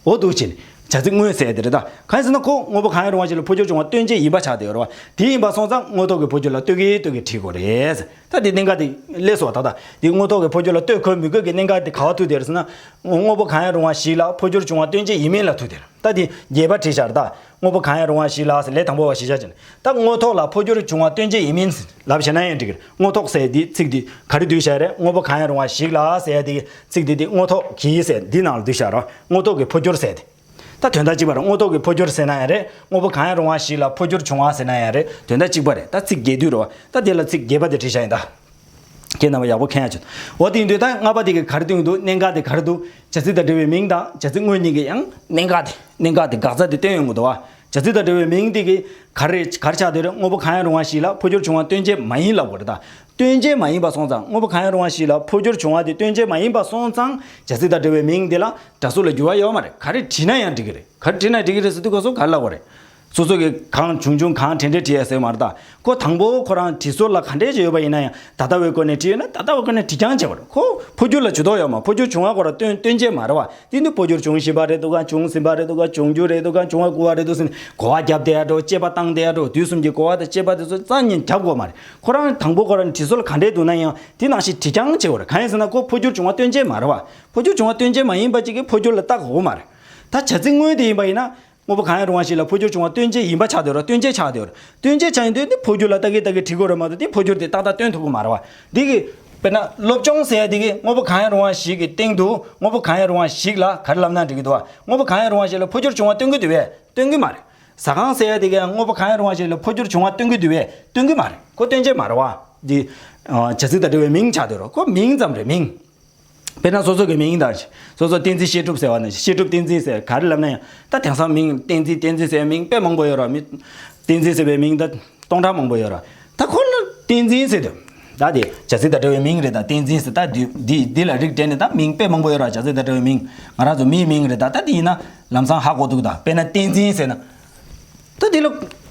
འོ་འདུག་ཅེས་བྱ་ཚིག་དངོས་གསལ་དེ་རེད་ད། གང་ཟེར་ན་ཁོ་དངོས་པོ་གང་ཡིན་རུང་བ་ཞིག་ལ་འཕོ་འགྱུར་བྱུང་བ་སྟོན་བྱེད་ཡིན་པ་ཆགས་བསྡད་ཡོད་རུང་བ་དེ་ཡིན་པར་སོང་ཙང་དངོས་ཐོག་གི་འཕོ་འགྱུར་ལ་ལྟོས་གིན་ལྟོས་གིན་བྲིས་དགོས་རེད། ད་དེ་གནད་འགག་དེ་ལས་སུ་བ་ད་ད་དེ་དངོས་ཐོག་གི་འཕོ་འགྱུར་ལ་ལྟོས་དགོས་མི་དགོས་ཀྱི་གནད་འགག་དེ་ག་བ་ཐུག་བསྡད་རེད་ཟེར་ན། དངོས་པོ་གང་ཡིན་རུང་བ་ཞིག་ལ་འཕོ་འགྱུར་བྱུང་བ་སྟོན་བྱེད་ཡིན་མིན་ལ་ཐུག་བསྡད་རེད་ད་དེ་རྒྱས་པར་བྲིས་བཞག་རེད་ད། དངོས་པོ་གང་ཡང་རུང་བ་ཞིག་ལ་ལས་དང་པོ་བ་ཞེས་བྱ་སྦྱར། ད་དངོས་ཐོག་ལ་འཕོ་འགྱུར་བྱུང་བ་སྟོན་བྱེད་ཡིན་མིན་ལབ་བྱེད་ན་ཡང་འགྲིག་གི། དངོས་ཐོག་ཟེར་དེའི་ཚིག་འདི་ག་རེ་བསྡུས་བྱ་རེད་དངོས་པོ་གང་ཡང་རུང་བ་ཞིག་ལ་ཟེར་དེའི་ཚིག་འདི་དེ་དངོས་ཐོག་གིས་ཟེར་འདི་ནང་ལ་བསྡུས་བྱ་རོགས་དངོས་ཐོག་གི་འཕོ་འགྱུར་ཟེར་ཏེ། ད་དོན་དག་གཅིག་པ་རེད་དངོས་ཐོག་གི་འཕོ་འགྱུར་ཟེར་ན་ཡང་རེད་དངོས་པོ་གང་ཡང་རུང་བ་ཞིག་ལ་འཕོ་འགྱུར་བྱུང་བ་ཟེར་ན་ཡང་རེད་དོན་དག་གཅིག་པ་རེད་ད་ཚིག་བརྒྱད་བསྡུས་རོགས་ད་དེ་ལ་ཚིག་བརྒྱད་པ་དེ་བྲིས་བྱ་ཡིན་ད། ཁྱེད་རྣམ་པ་ཡག་པོ་མཁྱེན་ཡ་བྱོས། འོ་དེའི་མདུན་ད་ལྔ་པ་དེ་གི་གར་སྟོན་གི་འདུག་གནད་འགག་དེ་གར་འདུག་བྱ་ཚིག་དང་འབྲེལ་བའི་མིང་དང་བྱ་ཚིག་དངོས་གཉིས་ཀྱི་ཡང་གནད་འགག་དེ་གནད་འགག་དེ་འགག་རྩ་དེ་སྟོན་ཡོང་གི་འདུག་བ་བྱ་ཚིག་དང་འབྲེལ་བའི་མིང་དེ་གི་གར་རེད་གར་ཆག་དེ་རེད་དངོས་པོ་གང་ཡང་རུང་བ་ཞིག་ལ་འཕོ་འགྱུར་བྱུང་བ་སྟོན་བྱེད་མ་ཡིན་ལབ་དགོས་རེད་ད་སྟོན་བྱེད་མ་ཡིན་པ་སོང་ཙང་དངོས་པོ་གང་ཡང་རུང་བ་ཞིག་ལ་འཕོ་འགྱུར་བྱུང་བ་དེ་སྟོན་བྱེད་མ་ཡིན་པ་སོང་ཙང་བྱ་ཚིག་དང་འབྲེལ་བའི་མིང་དེ་ལ་སྒྲ་གཟུགས་ལ་འགྱུར་བ་ཡོད་མ་རེད་ག་རེ་བྲིས་ན་ཡང་འགྲིག་གི་རེད་ག་རེ་བྲིས་ན་འགྲིག་གི་རེད་སོ་དུས་ག་སོང་གར་ལབ་དགོས་རེད། སོ་སོ་གིས་གང་བྱུང་བྱུང་གང་དྲན་དྲན་བྲིས་ཡ་ཟེར་བ་མ་རེད་ད། ཁོ་དང་པོ་ཁོ་རང་བྲིས་སྲོལ་ལ་ག་འདྲས་ཀྱི་ཡོད་པ་ཡིན་ན་ཡང་ད་ལྟ་བའི་སྐོར་ནས་བྲིས་ཡོད་ན་ད་ལྟ་བའི་སྐོར་ནས་བྲིས་རྐྱང་བྱས་པ་རེད། ཁོ་འཕོ་འགྱུར་ལ་ཇུས་གཏོགས་ཡོད་མ་འཕོ་འགྱུར་བྱུང་བ་སྐོར་ལ་སྟོན་སྟོན་རྒྱས་མ་རེད་བ། དེ་འདི་འཕོ་འགྱུར་བྱུང་བཞིན་པ་རེད་འདུག་གམ་བྱུང་ཟིན་པ་རེད་འདུག་གམ་འབྱུང་རྒྱུ་རེད་འདུག་གམ་འབྱུང་བར་སྐུལ་བ་རེད་འདུག་ཟེར་ནས་གོ་བ་བརྒྱབ་བསྡད་ཡ་འགྲོ་དཔྱད་པ་བཏང་བསྡད་ཡ་འགྲོ་དུས་གསུམ་གྱི་གོ་བ་དང་དཔྱད་པ་དེ་ཚོ་རྩ་གཉིས་བརྒྱབ་དགོས་མ་རེད། ཁོ་རང་དང་པོ་ཁོ་རང་བྲིས་སྲོལ་ག་འདྲས་འདུག་ན་ཡང་དེ་ནང་བཞིན་བྲིས་རྐྱང་བྱས་པ་རེད་གང་ཡིན་ཟེར་ན་ཁོ་འཕོ་འགྱུར་བྱུང་བ་སྟོན་རྒྱས་མ་རེད་བ། འཕོ་འགྱུར་བྱུང་བ་སྟོན་རྒྱས་མ་ཡིན་པ་གཅིག་གིས་འཕོ་འགྱུར་ལ་བརྟག་དགོས་མ་རེད། ད་བྱ་ཚིག་དངོས་དེ་ཡིན་པ་ཡིན་ན། དངོས་པོ་གང་ཡང་རུང་བ་ཞིག་ལ་འཕོ་འགྱུར་བྱུང་བ་སྟོན་བྱེད་ཡིན་པ་ཆགས་འདོད་ར་སྟོན་བྱེད་ཆགས་འདོད་ར་སྟོན་བྱེད་ཆགས་ཡིན་དུས་དེ་འཕོ་འགྱུར་ལ་ལྟ་གི་ལྟ་གི་བྲིས་དགོས་ར་མ་གཏོགས་དེ་འཕོ་འགྱུར་དེ་ཏག་ཏག་སྟོན་ཐུབ་གི་མ་ར་བ། འདི་གི། དཔེར་ན་སློབ་སྤྱོང་ཟེར་ཡ་འདི་གི་དངོས་པོ་གང་ཡང་རུང་བ་ཞིག་གི་སྟེང་དུ་དངོས་པོ་གང་ཡང་རུང་བ་ཞིག་ལ་ག་རེ་ལབ་ན་འགྲིག་གི་འདུག་བ་དངོས་པོ་གང་ཡང་རུང་བ་ཞིག་ལ་འཕོ་འགྱུར་བྱུང་བ་སྟོན་གི་འདུག་བས་སྟོན་གི་མ་རེད། ཟ་ཁང་ཟེར་ཡ་འདི་གའི་དངོས་པོ་གང་ཡང་རུང་བ་ཞིག་ལ་འཕོ་འགྱུར་བྱུང་བ་སྟོན་གི་འདུག་བས་སྟོན་གི་མ་རེད་ཁོ་སྟོན་བྱེད་མ་ར་བ། འདི། བྱ་ཚིག་དང་འབྲེལ་བའི་མིང་ཆགས་འདོད་ར་ཁོ་མིང་ཙམ་རེད་མིང། དཔེར་ན་སོ་སོ་གི་མིང་དང། སོ་སོ་བསྟན་འཛིན་བཤད་སྒྲུབ་ཟེར་བ་ནི་བཤད་སྒྲུབ་བསྟན་འཛིན་ཟེར་ག་རེ་ལབ་ན་ཡང་ད་དེང་སང་མིང་བསྟན་འཛིན་བསྟན་འཛིན་ཟེར་བའི་མིང་དཔེ་མང་པོ་ཡོད་ར་མི། བསྟན་འཛིན་ཟེར་བའི་མིང་ད་སྟོང་ཕྲག་མང་པོ་ཡོད་ར་ད་ཁོ་ལ་བསྟན་འཛིན་ཟེར་དུས་ད་དེ་བྱ་ཚིག་དང་འདྲ་བའི་མིང་རེད་ད་བསྟན་འཛིན་ཟེར་ད་འདི་ལ་རིགས་བསྒྲེས་ནས་ད་མིང་དཔེ་མང་པོ་ཡོད་ར་བྱ་ཚིག་དང་འདྲ་བའི་མིང་ང་རང་ཚོ་མིའི་མིང་རེད་ད་ད་དེ་ཡིན་ན་ལམ་སང་ཧ་གོ་འདུག་ད་དཔེར་ན་བསྟན་འཛིན་ཟེར་ན། ད་འདི་ལ་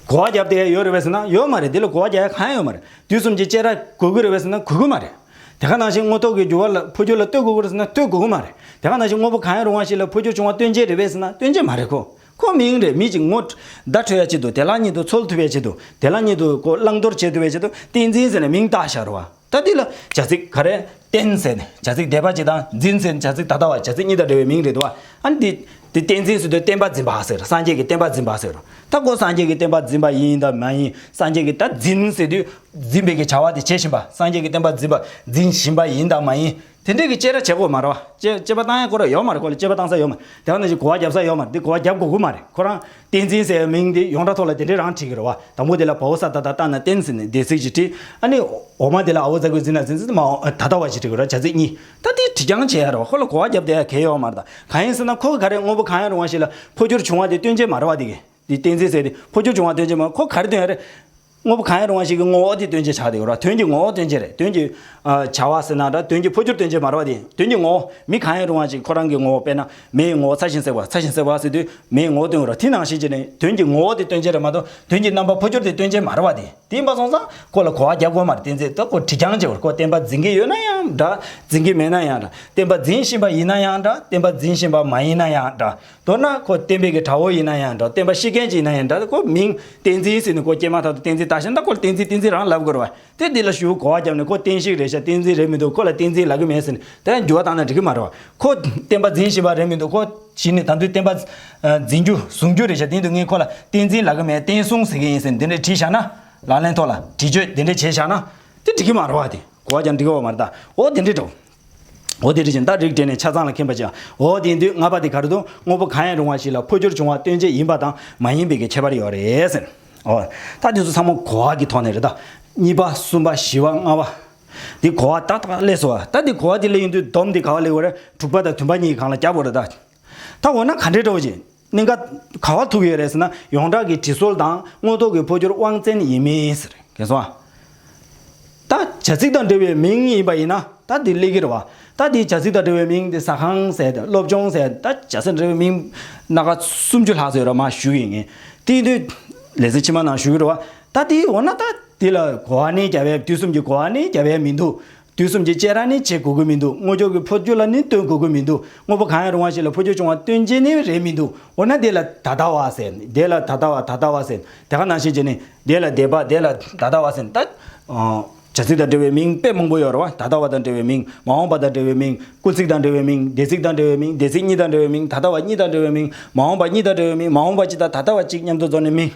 གོ་བ་རྒྱབ་དེ་ཡོད་རེད་བས་ཟེར་ན་ཡོད་མ་རེད་འདི་ལ་གོ་བ་རྒྱབ་ཡ་གང་ཡང་ཡོད་མ་རེད་དུས་གསུམ་གྱི་དཔྱད་ར་གོ་གི་རེད་བས་ཟེར་ན་གོ་གི་མ་རེད། དེ་ག་ནང་བཞིན་དངོས་ཐོག་གི་འགྱུར་བ་ལ་འཕོ་འགྱུར་ལ་ལྟོས་དགོས་སྐོར་ཟེར་ན་ལྟོས་དགོས་ཀྱི་མ་རེད། དེ་ག་ནང་བཞིན་དངོས་པོ་གང་ཡང་རུང་བ་ཞིག་ལ་འཕོ་འགྱུར་བྱུང་བ་སྟོན་བྱེད་རེད་བས་ཟེར་ན་སྟོན་བྱེད་མ་རེད་ཁོ། ཁོ་མི་ཡིན་རེད་མི་གཅིག་ངོ། བརྡ་འཕྲོད་ཡ་ཆེད་དུ་དེ་ལག་གཉིས་དུ་འཚོལ་ཐུབ་པའི་ཆེད་དུ་དེ་ལག་གཉིས་དུ་གོ་བླང་དོར་བྱེད་ཐུབ་པའི་ཆེད་དུ་བསྟན་འཛིན་ཟེར་ནས་མིང་བཏགས་བཞག་རུང་བ་ད་འདི་ལ་བྱ་ཚིག་ག་རེ། བསྟན་ཟེར་ནས་བྱ་ཚིག་སྡེ་པ་གཅིག་དང་འཛིན་ཟེར་ནས་བྱ་ཚིག་ད་ལྟ་བ་བྱ་ཚིག་གཉིས་དང་འབྲེལ་བའི་མིང་རེད་དོ། ཨ་འདི། འདི་བསྟན་འཛིན་ཟེར་དུས་བསྟན་པ་འཛིན་པ་ཟེར་སངས་རྒྱས་ཀྱི་བསྟན་པ་འཛིན་པ་ཟེར་རུང་ད་གོ་སངས་རྒྱས་ཀྱི་བསྟན་པ་འཛིན་པ་ཡིན་དང་མ་ཡིན་སངས་རྒྱས་ཀྱི་ད་འཛིན་ཟེར་དུས་འཛིན་པའི་གི་བྱ་བ་དེ་བྱེད་བཞིན་པ་སངས་རྒྱས་ཀྱི་བསྟན་པ་འཛིན་པ་འཛིན་བཞིན་པ་ཡིན་དང་མ་ཡིན། དེ་འདྲས་ཀྱི་དཔྱད་ར་བྱེད་དགོས་མ་རེད་བ། དཔྱད་དཔྱད་པ་བཏང་ཡ་གོ་རེད་ཡོད་མ་རེད་ཁོ་ལ་དཔྱད་པ་བཏང་ས་ཡོད་མ་རེད་དེ་བ་ན་གཞི་གོ་བ་བརྒྱབ་ས་ཡོད་མ་རེད་འདི་གོ་བ་བརྒྱབ་དགོས་གི་མ་རེད་ཁོ་རང་བསྟན་འཛིན་ཟེར་བའི་མིང་འདི་ཡོངས་གྲགས་ཐོག་ལ་དེ་འདྲས་རང་བྲིས་གི་རེད་བ་དང་པོ་དེ་ལ་བ་བོ་ས་ད་ད་བཏགས་ན་བསྟན་ཟེར་ནས་སྡེ་ཚིག་ཅིག་བྲིས་ཨ་ནི་འོག་མ་དེ་ལ་ཨ་བོ་རྫ་གོས་འཛིན་ན་འཛིན་ཟེར་ན་མ་འོངས་ད་ལྟ་བ་ཞིག་བྲིས་གི་རེད་བ་བྱ་ཚིག་གཉིས་ད་འདི་བྲིས་རྐྱང་བྱེད་ཡ་རེད་བ་ཁོ་ལ་གོ་བ་བརྒྱབ་བསྡད་ཡ་གལ་ཡོད་མ་རེད་ད་གང་ཡིན་ཟེར་ན་ཁོ་གི་ག་རེ་དངོས་པོ་གང་ཡང་རུང་བ་ཞིག་ལ་འཕོ་འགྱུར་བྱུང་བ་དེ་སྟོན་བྱེད་མ་རེད་བ་འདི་གི། དེ་བསྟན་འཛིན་ཟེར་ཏེ་འཕོ་འགྱུར་བྱུང་བ་སྟོན་བྱེད་མ་ཁོ་ག་རེ་སྟོན་ཡ་རེད། དངོས་པོ་གང་ཡང་རུང་བ་ཞིག་གི་ངོ་བོ་དེ་སྟོན་བྱེད་ཆགས་ཏེ་ཡོད་ར་དོན་གྱི་ངོ་བོ་སྟོན་བྱེད་རེད་དོན་གྱི། བྱ་བ་ཟེར་ན་འདྲ་དོན་གྱི་འཕོ་འགྱུར་སྟོན་བྱེད་མ་རེད་བ་དེ་དོན་གྱི་ངོ་བོ་མི་གང་ཡང་རུང་བ་ཞིག་ཁོ་རང་གི་ངོ་བོ་དཔེར་ན་མེའི་ངོ་བོ་ཚ་ཞིང་སྲེག་པ་ཚ་ཞིང་སྲེག་པ་ཟེར་དུས་མེའི་ངོ་བོ་སྟོན་དགོས་ར་དེ་ནང་བཞིན་གྱི་ནི་དོན་གྱི་ངོ་བོ་དེ་སྟོན་བྱེད་རེད་མ་གཏོགས་དོན་གྱི་རྣམ་པ་འཕོ་འགྱུར་དེ་སྟོན་བྱེད་མ་རེད་བ་དེ་དེ་ཡིན་པ་སོང་ཙང་ཁོ་ལ་གོ་བ་རྒྱབ་དགོས་མ་རེད་བསྟན་འཛིན་ལྟ་ཁོ་དྲི་རྐྱང་བྱེད་པར་ཁོ་བསྟན་པ་འཛིན་གྱི་ཡོད་ན་ཡང་འདྲ་འཛིན་གྱི་མེད་ན་ཡང་འདྲ་བསྟན་པ་འཛིན་བཞིན་པ་ཡིན་ན་ཡང་འདྲ་བསྟན་པ་འཛིན་བཞིན་པ་མ་ཡིན་ན་ཡང་འདྲ་མདོར་ན་ཁོ་བསྟན་པའི་གི་དྲ་བོ་ཡིན་ན་ཡང་འདྲ་བསྟན་པ་ཤེས་མཁན་ཅིག་ཡིན་ན་ཡང་འདྲ་དེ་ཁོ་མིང་བསྟན་འཛིན་ཟེར་ནས་ཁོ་སྐྱེས་མ་ཐག་ཏུ་བསྟན་འཛིན་ད་ཞེན་ད་ཁོ་ལ་བསྟན་འཛིན་བསྟན་འཛིན་རང་ལབ་དགོས་རེད་བ་དེ་འདི་ལ་ཞུ་གོ་བ་བརྒྱབ་ནས་ཁོ་བསྟན་ཞིག་རེད་ཤ་བསྟན་འཛིན་རེད་མི་འདུག་ཁོ་ལ་བསྟན་འཛིན་ལབ་གི་མེད་ཟེར་ནས་དེ་ཡང་འགྱུར་བ་བཏང་ན་འགྲིག་གི་མ་རེད་བ་ཁོ་བསྟན་པ་འཛིན་བཞིན་པ་རེད་མི་འདུག་ཁོ་གཞི་ནས་ད་དུས་བསྟན་པ་འཛིན་རྒྱུ་བཟུང་རྒྱུ་རེད་ཤ་དེ་འདུག་ངས་ཁོ་ལ་བསྟན་འཛིན་ལབ་གི་མེད་བསྟན་སྲུང་ཟེར་གི་ཡིན་ཟེར་ནས་འདི་འདྲའི་བྲིས་བཞག་ན་ལག་ལེན་ཐོག་ལ་བྲིས་བཅོས་འདི་འདྲའི་བྱས་བཞག་ན་དེ་འགྲིག་གི་མ་རེད་བ་དེ་གོ་བ་ཀྱང་འགྲིག་གི་འོ་མ་རེད་ད་འོ་དེ་འདྲའི་དྲ་བོ་འོ་དེ་དེ་བཞིན་ལྟར་རིགས་བསྒྲེས་ནས་ཆ་ཚང་ལ་མཁྱེན་པར་བྱ། འོ་དེའི་མདུན་ལྔ་པ་དེ་ག་རེ་དུ་དངོས་པོ་གང་ཡང་རུང་བ་ཞིག་ལ་འཕོ་འགྱུར་འབྱུང་བ་སྟོན་བྱེད་ཡིན་པ་དང་མ་ཡིན་པའི་ཁྱད་པར་ཡོད་རེད་ཟེར། འོ། ད་དེ་ཚོ་ཚང་མ་གོ་བ་གི་ཐོག་ནས་རེད་ད། གཉིས་པ་གསུམ་པ་བཞི་བ་ལྔ་བ། དེ་གོ་བ་ཏག་ཏག་ཀླད་སོ། ད་དེ་གོ་བ་དེ་ཀླད་ཡིན་དུས་སྡོམ་དེ་ག་བ་ལེགས་བ་རེད་དྲུག་པ་དང་དུམ་པ་གཉིས་ཀྱི་གང་ལ་རྒྱབ་བོ་རེད་ད། ད་འོ་ན་ག་འདྲའི་སྤྲོ་བ་ཞིག་གནང། ག་ག་བ་ཐུག་ཡོད་རེད་ཟེར་ན་ཡོངས་གྲགས་ཀྱི་དྲི་སོལ་དང་དངོས་ཐོག་གི་འཕོ་འགྱུར་དབང་བཙན་ཡིན་མིན་ཟེར་གན་སོང་ཨ། ད་བྱ་ཚིག་དང་འབྲེལ་བའི་མིང་ཡིན་པ་ཡིན་ན་ད་འདི་གླེགས་ཀྱི་རེད་བ། ད་འདི་བྱ་ཚིག་དང་འབྲེལ་བའི་མིང་འདི་ཟ་ཁང་ཟེར་དང་སློབ་ཆུང་ཟེར་ད་བྱ་ཚིག་དང་འབྲེལ་བའི་མིང། སྣ་ཁ་སུམ་ཅུ་ལྷག་ཟེར་རོགས་མ་ཞུ་ཡི་ངེ། དེ་དུས་ལས་ཚེ་ཕྱི་མ་ནང་ཞུ་གི་རེད་བ། ད་འདི་འོ་ན་ད་འདི་ལ་གོ་བ་ནི་རྒྱ་བལ་དུས་གསུམ་གྱི་གོ་བ་ནི་རྒྱ་བལ་མི་འདུག་དུས་གསུམ་གྱི་སྤྱད་ར་ནི་བྱེད་དགོས་ཀྱི་མི་འདུག་དངོས་ཆོས་ཀྱི་འཕོ་འགྱུར་ལ་ནི་ལྟོས་དགོས་ཀྱི་མི་འདུག་དངོས་པོ་གང་ཡང་རུང་བ་ཞིག་ལ་འཕོ་འགྱུར་བྱུང་བ་སྟོན་བྱེད་ནི་རེད་མི་འདུག་འོ་ན་དེ་ལ་ད་ལྟ་བ་ཟེར། དེ་ལ་ད་ལྟ་བ་ད་ལྟ་བ་ཟེར། དེ་ག་ནང་བཞིན་བྱས་ནས། དེ་ལ་དེ་བ་དེ་ལ་ད་ལྟ་བ་ཟེར། བྱ་ཚིག་དང་འབྲེལ་བའི་མིང་དཔེ་མང་པོ་ཡོད་རེད་བ། ད་ལྟ་བ་དང་འབྲེལ་བའི་མིང། མ་འོངས་པ་དང་འབྲེལ་བའི་མིང། སྐུ་ཚིག་དང་འབྲེལ་བའི་མིང། འདས་ཚིག་དང་འབྲེལ་བའི་མིང། འདས་ཚིག་གཉིས་དང་འབྲེལ་བའི་མིང། ད་ལྟ་བ་གཉིས་དང་འབྲེལ་བའི་མིང། མ་འོངས་པ་གཉིས་དང་འབྲེལ་བའི་མིང། མ་འོངས་པ་གཅིག་དང་ད་ལྟ་བ་གཅིག་མཉམ་དུ་བཟོ་ནས་མིང།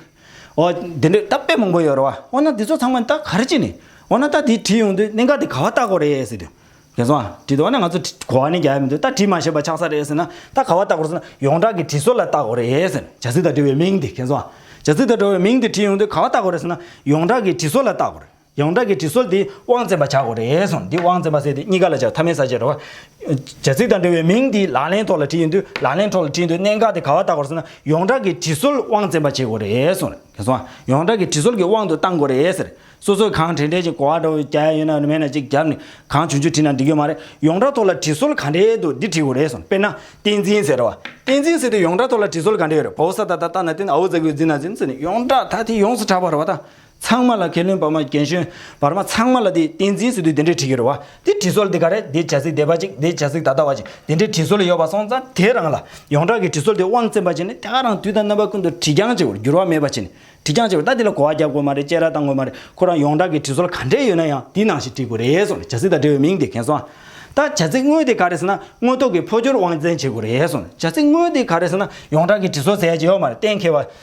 འོ། དེ་འདྲའི་རྟགས་དཔེ་མང་པོ་ཡོད་རེད་བ། འོ་ན་དེ་ཚོ་ཚང་མ་རྟགས་ག་རེ་བྱས་ནས། འོ་ན་རྟགས་དེ་བྲིས་ཡོང་དུས་གནད་འགག་དེ་ག་བ་རྟགས་གོ་རེད་ཟེར་དུས། རྒན་སོང་ཨ། བྲིས་འདུག་ཨ་ན་ང་ཚོ་གོ་བ་ནི་རྒྱ་ཡ་མི་འདུག་རྟགས་བྲིས་མ་ཤེས་པ་ཆགས་ས་རེད་ཟེར་ན། རྟགས་ག་བ་རྟགས་གོ་ཟེར་ན། ཡོངས་གྲགས་ཀྱི་བྲིས་སྲོལ་ལ་རྟགས་གོ་རེད་ཟེར། བྱ་ཚིག་དང་འབྲེལ་བའི་མིང་དེ་རྒན་སོང་ཨ། བྱ་ཚིག་དང་འབྲེལ་བའི་མིང་དེ་བྲིས་ཡོང་དུས་ག་བ་རྟགས་གོ་རེད་ཟེར་ན། ཡོངས་གྲགས་ཀྱི་བྲིས་སྲོལ་ལ་རྟགས་གོ་རེད། ཡོངས་གྲགས་ཀྱི་དྲི་སོལ་འདི་དབང་བཙན་པ་བྱ་དགོས་རེད་གསུངས་འདི་དབང་བཙན་པ་ཟེར་དེ་གཉིས་ཀ་ལ་བྱ་ཐབས་མེད་ས་བྱེད་རོགས། བྱ་ཚིག་དང་འབྲེལ་བའི་མིང་འདི་ལག་ལེན་ཐོག་ལ་བྲིས་ཡོད་འདུག་ལག་ལེན་ཐོག་ལ་བྲིས་འདུག་གནད་འགག་དེ་ག་བ་ལྟ་དགོས་ཟེར་ན་ཡོངས་གྲགས་ཀྱི་དྲི་སོལ་དབང་བཙན་པ་བྱེད་དགོས་རེད་གསུངས་རེད་གསུངས་ཨ་ཡོངས་གྲགས་ཀྱི་དྲི་སོལ་གྱི་དབང་དུ་གཏང་དགོས་རེད་ཟེར་སོ་སོས་གང་དྲན་དྲན་ཅིག་གོ་བ་འདྲ་བོ་རྒྱ་ཡ་ཡོད་ན་མེད་ན་ཅིག་རྒྱབ་ནས་གང་བྱུང་བྱུང་བྲིས་ན་འགྲིག་གི་མ་རེད་ཡོངས་གྲགས་ཐོག་ལ་དྲི་སོལ་ག་འདྲེ་འདུག་འདི་བྲིས་དགོས་རེད་གསུངས་དཔེར་ན་བསྟན་འཛིན་ཟེར་རོགས་བསྟན་འཛིན་ཟེར་དེ་ཡོངས་གྲགས་ཐོག་ལ་དྲི་སོལ་ག་འདྲེ་ཡོད་རེད་བོའུ་ས་ད་ད་ལྟ་ན་བསྟན་ཨོའུ་ཛ་གུའུ་ཛི་ན་ཛི་ན་ཟེར་ནས་ཡོངས་གྲགས་ད་དེ་ཡོངས་སུ་གྲགས་པ་རེད་བ་ད་ཚང་མ་ལ་མཁས་བླུན་བར་མ་རྒན་གཞོན་བར་མ་ཚང་མ་ལ་དེ་བསྟན་འཛིན་ཟེར་དུས་དེ་འདྲའི་བྲིས་ཀྱི་རེད་བ། དེ་བྲིས་སྲོལ་དེ་ག་རེད་དེ་བྱ་ཚིག་བདེ་བ་ཅིག་དེ་བྱ་ཚིག་ད་ལྟ་བ་ཅིག་དེ་འདྲའི་བྲིས་སྲོལ་ཡོད་པ་སོང་ཙང་དེ་རང་ལ་ཡོངས་གྲགས་ཀྱི་བྲིས་སྲོལ་དེ་དབང་བཙན་པ་བྱས་ནས་དེ་ག་རང་དུས་དང་རྣམ་པ་ཀུན་ཏུ་བྲིས་རྐྱང་བྱེད་པར་འགྱུར་བ་མེད་པ་བྱས་ནས་བྲིས་རྐྱང་བྱེད་པར་ད་དེ་ལ་གོ་བ་རྒྱབ་དགོས་མ་རེད་དཔྱད་ར་བཏང་དགོས་མ་རེད་ཁོ་རང་ཡོངས་གྲགས་ཀྱི་བྲིས་སྲོལ་ག་འདྲས་ཡོད་ན་ཡང་དེ་ནང་བཞིན་བྲིས་དགོས་རེད་གསུངས་ནས་བྱ་ཚིག་དང་འབྲེལ་བའི་མིང་དེ་གན་སོང་ཨ། ད་བྱ་ཚིག་དངོས་དེ་ག་རེད་ཟེར་ན་དངོས་ཐོག་གི་འཕོ་འགྱུར་དབང་བཙན་བྱེད་དགོས་རེད་གསུངས་ནས་བྱ་ཚིག་དངོས་དེ་ག་རེད་ཟེར་ན་ཡོངས་གྲགས་ཀྱི་བྲིས་སྲོལ་ཟེར་ཡ་གཅིག་ཡོད་མ་རེད་གཏན་འཁེལ་བ།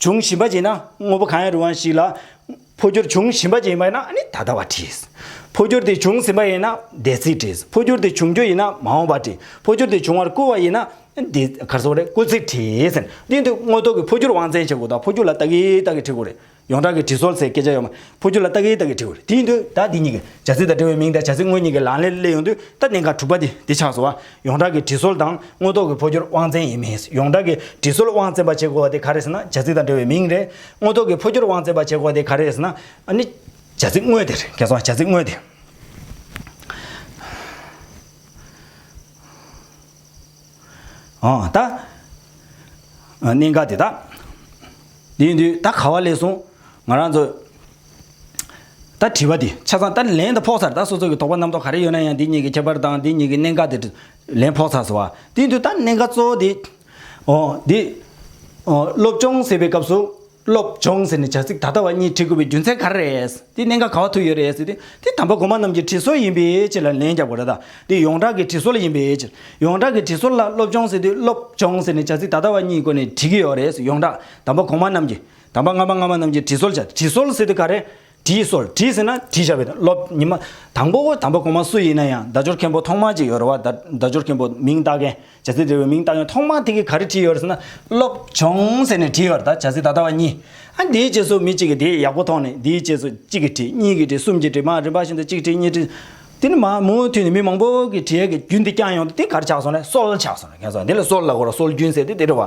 བྱུང་བཞིན་པ་བྱས་ན་དངོས་པོ་གང་ཡང་རུང་བ་ཞིག་ལ་འཕོ་འགྱུར་བྱུང་བཞིན་པ་ཅན་ཡིན་པ་ཡིན་ན་ནི་ད་ལྟ་བ་བྲིས། འཕོ་འགྱུར་དེ་བྱུང་ཟིན་པ་ཡིན་ན་འདས་ཚིག་བྲིས། འཕོ་འགྱུར་དེ་བྱུང་རྒྱུ་ཡིན་ན་མ་འོངས་པ་བྲིས། འཕོ་འགྱུར་དེ་བྱུང་བར་བསྐུལ་བ་ཡིན་ན་འདི་གར་སོགས་རེ་སྐུལ་ཚིག་བྲིས། འདི་འདི་དངོས་ཐོག་གི་འཕོ་འགྱུར་དབང་བཙན་བྱེད་དགོས་དང་འཕོ་འགྱུར་ལ་ཏག་གི་ཏག་གི་བྲི་དགོས་རེད། ཡོངས་གྲགས་ཀྱི་བྲིས་སྲོལ་ཟེར་སྐད་ཆ་ཡོད་མ། འཕོ་འགྱུར་ལ་ཏག་གི་ཏག་གི་བྲི་དགོས་རེད། དེ་ཡིན་དུས་ད་འདི་གཉིས་ཀྱི་བྱ་ཚིག་དང་འབྲེལ་བའི་མིང་དང་བྱ་ཚིག་དངོས་གཉིས་ཀྱི་ལག་ལེན་གླེང་ཡོང་དུས་ད་གནད་འགག་དྲུག་པ་དེ་འདི་ཆགས་སོང་བ། ཡོངས་གྲགས་ཀྱི་དྲི་སོལ་དང་དངོས་ཐོག་གི་འཕོ་འགྱུར་དབང་བཙན་ཡིན་མིན། ཡོངས་གྲགས་ཀྱི་དྲི་སོལ་དབང་བཙན་པ་བྱེད་དགོས་པ་དེ་ག་རེད་ཟེར་ན་བྱ་ཚིག་དང་འབྲེལ་བའི་མིང་རེད། དངོས་ཐོག་གི་འཕོ་འགྱུར་དབང་བཙན་པ་བྱེད་དགོས་པ་དེ་ག་རེད་ཟེར་ན། ཨ་ནི། བྱ་ཚིག་དངོས་དེ་རེད། ཁྱེད་ཚོ་ཨ་བྱ་ཚིག་དངོས་དེ། ཨ་ད། གནད་འགག་དེ་དག། དེ་ཡིན་དུས་ད་ག་བ་ལས་གསུངས། ང་རང་ཚོ། ད་དྲི་བ་དེ་ཆ་ཚང་ད་ལན་དུ་ཕོག་ཚར་ད་སོ་སོ་གི་དོགས་པ་རྣམ་རྟོག་ག་རེ་ཡོད་ན་ཡང་དེ་གཉིས་ཀྱི་ཁྱད་པར་དང་དེ་གཉིས་ཀྱི་གནད་འགག་དེ་ལན་ཕོག་ཚར་སོ་བ་དེ་དུས་ད་གནད་འགག་གཙོ་བོ་དེ། ཨོ། དེ། ཨོ། སློབ་སྦྱོང་ཟེར་བའི་སྐབས་སུ། སློབ་སྦྱོང་ཟེར་ནས་བྱ་ཚིག་ད་ལྟ་བ་གཉིས་བྲི་དགོས་པའི་རྒྱུ་མཚན་ག་རེ་རེད། དེ་གནད་འགག་ག་བ་ཐུག་ཡོད་རེད་ཟེར་ཏེ། དེ་དམ་པ་གོང་མ་རྣམས་ཀྱི་བྲི་སྲོལ་ཡིན་པའི་ཕྱིར་ལ་ལན་རྒྱབ་དགོས་རེད་ད། དེ་ཡོངས་གྲགས་ཀྱི་བྲི་སྲོལ་ཡིན་པའི་ཕྱིར། ཡོངས་གྲགས་ཀྱི་བྲི་སྲོལ་ལ་སློབ་སྦྱོང་ཟེར་དུས་སློབ་སྦྱོང་ཟེར་ནས་བྱ་ཚིག་ད་ལྟ་བ་གཉིས་བཀོལ་ནས་བྲི་གི་ཡོད་རེད་ཟེར་ཡོངས་གྲགས་དམ་པ་གོང་མ་རྣམས་ཀྱི། དམ་པ་སྔ་མ་སྔ་མ་རྣམས་ཀྱིས་དྲི་གསོལ་བྱ། དྲི་གསོལ་ཟེར་དུས་ག་རེ། དྲིས་གསོལ་དྲིས་ཟེར་ན་དྲིས་བྱ་བའི་དོན་སློབ། ཉི་མ། དང་པོ། དམ་པ་གོང་མ་སུ་ཡིན་ན་ཡང་བརྡ་སྦྱོར་མཁན་པོ་ཐོག་མ་ཅིག་ཡོད་རེད་བ། བརྡ་སྦྱོར་མཁན་པོ་མིང་བཏགས་མཁན། བྱ་ཚིག་འབྲེལ་བའི་མིང་བཏགས་མཁན་ཐོག་མ་དེ་གིས་ག་རེ་དྲིས་ཡོད་ཟེར་ན། སློབ། བྱུང་ཟེར་ནས་དྲིས་ཡོད་ད་བྱ་ཚིག་ད་ལྟ་བ་གཉིས། ཨ་འདིའི་རྗེས་སུ་མི་གཅིག་གིས་དེའི་ཡག་པོ་མཐོང་ནས་འདིའི་རྗེས་སུ་གཅིག་གིས་དྲིས་གཉིས་ཀྱིས་དྲིས་གསུམ་གྱིས་དྲིས་མ་རིམ་པ་བཞིན་དུ་གཅིག་དྲིས་གཉིས་དྲིས། དེ་ནི་མ་མུ་མཐུད་ནས་མི་མང་པོ་གིས་དྲིས་ཡས་ཀྱི་རྒྱུན་དེ་བསྐྱངས་ཡོང་དུས་དེ་ག་རེ་ཆགས་སོང་ན་གསོལ་ཆགས་སོང་ན་ཁེངས་སོང་ན་དེ་ལ་གསོལ་ལ་གོ་ར་གསོལ་རྒྱུན་ཟེར་ཏེ་དེ་རེད་བ།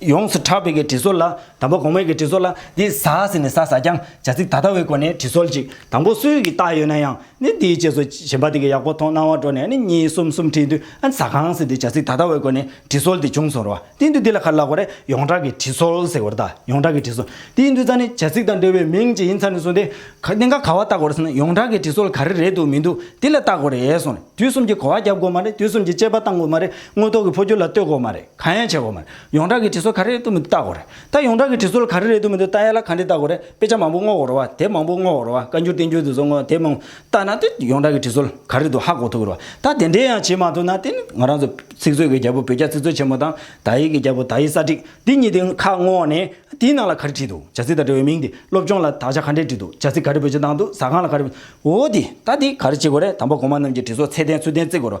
ཡོངས་སུ་གྲགས་པའི་གི་དྲི་བཟོ་ལ། དང་པོ་གོང་མའི་གི་དྲི་བཟོ་ལ། འདི་ཟ་ཟེར་ནས་ཟ་ཟ་ཀྱང་བྱ་ཚིག་ད་ལྟ་བའི་སྒོ་ནས་དྲི་བཟོ་ཅིག། དང་པོ་སུས་ཀྱིས་བཏགས་ཡོད་ན་ཡང་ནི་འདིའི་རྗེས་སུ་གཞན་པ་དེ་གི་ཡག་པོ་མཐོང་སྣང་བ་སྤྲོ་ནས་ནི་གཉིས་གསུམ་གསུམ་བྲིས་དུས་ཟ་གང་ཟེར་དེ་བྱ་ཚིག་ད་ལྟ་བའི་སྒོ་ནས་དྲི་བཟོ་དེ་བྱུང་སོང་རོ། དེ་འདུས་འདི་ལ་ག་ལ་ལགས་པ་རེད་ཡོངས་གྲགས་གི་དྲི་བཟོ་ཟེར་བར་གདའ་ཡོངས་གྲགས་གི་དྲི་བཟོ། དེ་འདུས་ཙང་ནི་བྱ་ཚིག་དང་འབྲེལ་བའི་མིང་ཅིག་ཡིན་ཚར་ནས་བཟུང་སྟེ། དེ་འགའ་ག་བ་བཏགས་དགོས་རེད་ཟེར་ན་ཡོངས་གྲགས་གི་དྲི་བཟོ་ག་རེ་རེད་འདུག་མི་འདུག་དེ་ལ་བཏགས་དགོས་རེད་ཟེར་ནས་དུས་གསུམ་གྱི་གོ་བ་རྒྱབ་དགོས་མ་རེད་དུས་གསུམ་གྱི་དཔྱད་པ་བཏང་དགོས་མ་རེད་དངོས་ཐོག་གི་འཕོ་འགྱུར་ལ་ལྟོས་དགོས་མ་རེད། གང་ཡང་བྱེད་དགོས་མ་རེད། ཡོངས་གྲགས་ཀྱི་དྲི་སོ་ག་རེ་རེད་བཏུ་མི་འདུག་བལྟ་དགོས་རེད། ད་ཡོངས་གྲགས་ཀྱི་དྲི་སོ་ལ་ག་རེ་རེད་བཏུ་མི་འདུག་བལྟ་ཡ་ལ་ག་འདི་བལྟ་དགོས་རེད་དཔེ་ཆ་མང་པོ་བསྔོག་དགོས་རེད་བ་དེབ་མང་པོ་བསྔོག་དགོས་རེད་བ་བཀའ་འགྱུར་བསྟན་འགྱུར་དུས་ཚོད་བསྔོག་དེབ་མང་པོ་བལྟ་ན་དེ་ཡོངས་གྲགས་ཀྱི་དྲི་སོ་ལ་ག་རེ་འདུག་ཧ་གོ་ཐུབ་རེད་བ་ད་དེ་འདྲས་ཡང་བྱེད་མ་ཐུབ་ན་དེ་ནི་ང་རང་ཚོ་ཚིག་མཛོད་ཀྱི་རྒྱལ་པོ་བོད་རྒྱ་ཚིག་མཛོད་ཆེན་མོ་དང་དག་ཡིག་གི་རྒྱལ་པོ་དག་ཡིག་གསར་བསྒྲིགས་འདི་གཉིས་དེ་ཁ་བསྔོག་ནས་དེའི་ནང་ལ་ག་རེ་བྲིས་འདུག་བྱ་ཚིག་དང་འབྲེལ་བའི་མིང་དེ་སློབ་སྦྱོང་ལ་དག་ཆ་ག་འདྲས་བྲིས་འདུག་བྱ་ཚིག་ག་རེ་བོད་ཆས་བཏང་འདུག་ཟ་ཁང་ལ་ག་རེ་འོ་དེ་ད་དེ་ག་རེ་བྱེད་དགོས་རེད་དམ་པ་གོང་མ་རྣམས་ཀྱི་དྲི་སོ་ཚད་ལྡན་ཚུལ་ལྡན་བརྩི་དགོས་རེད་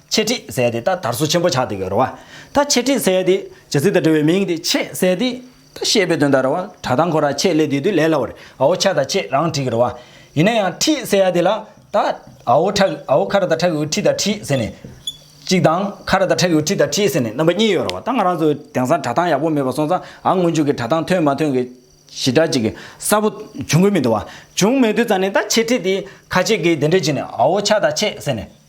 ཆེད་ཁྲིད་ཟས་དེ་ད་དར་སོ་ཆེན་པོ་ཆགས་འདུག་གི་རེད་བ། ད་ཆེད་ཁྲིད་ཟས་དེ་ཇི་སྲིད་ད་འབྲི་བའི་མིང་དེ་ཆེད་ཟས་དེ་ད་བཤད་པའི་དོན་ད་རེད་བ་གྲ་དང་འཁོར་ར་ཆེད་ལས་དེ་དུས་ལས་སླ་བ་རེད་ཨའོ་ཆ་ད་ཆེད་རང་བྲིས་གི་རེད་བ། ཡིན་ན་ཡང་ཁྲིད་ཟས་ཡ་དེ་ལ་ད་ཨའོ་ཁྲ་ཨའོ་ཁ་ར་ད་ཁྲ་གི་འོད་ཁྲིད་ད་ཁྲིད་ཟེར་ནས། གཅིག་དང་ཁ་ར་ད་ཁྲ་གི་འོད་ཁྲིད་ད་ཁྲིད་ཟེར་ནས་རྣམ་པ་གཉིས་ཡོད་རེད་བ་ད་ང་རང་ཚོ་དེང་སང་གྲ་ཐང་ཡག་པོ་མེད་པ་སོང་ཙང་ཨ་སྔོན་འཇུག་གི་གྲ་ཐང་ཐོན་མ་ཐོན་གི་ཞི་དྲག་ཅིག་གི་གསར་བོ་བྱུང་གི་མི་འདུག་བ། བྱུང་མེད་དུས་ཙང་ནས་ད་ཆེད་ཁྲིད་དེ་ཁ་ཆེད་ཀི་དེ་འདྲ་བྱས་ནས་ཨའོ་ཆ་ད་ཆེད་ཟེར་ནས།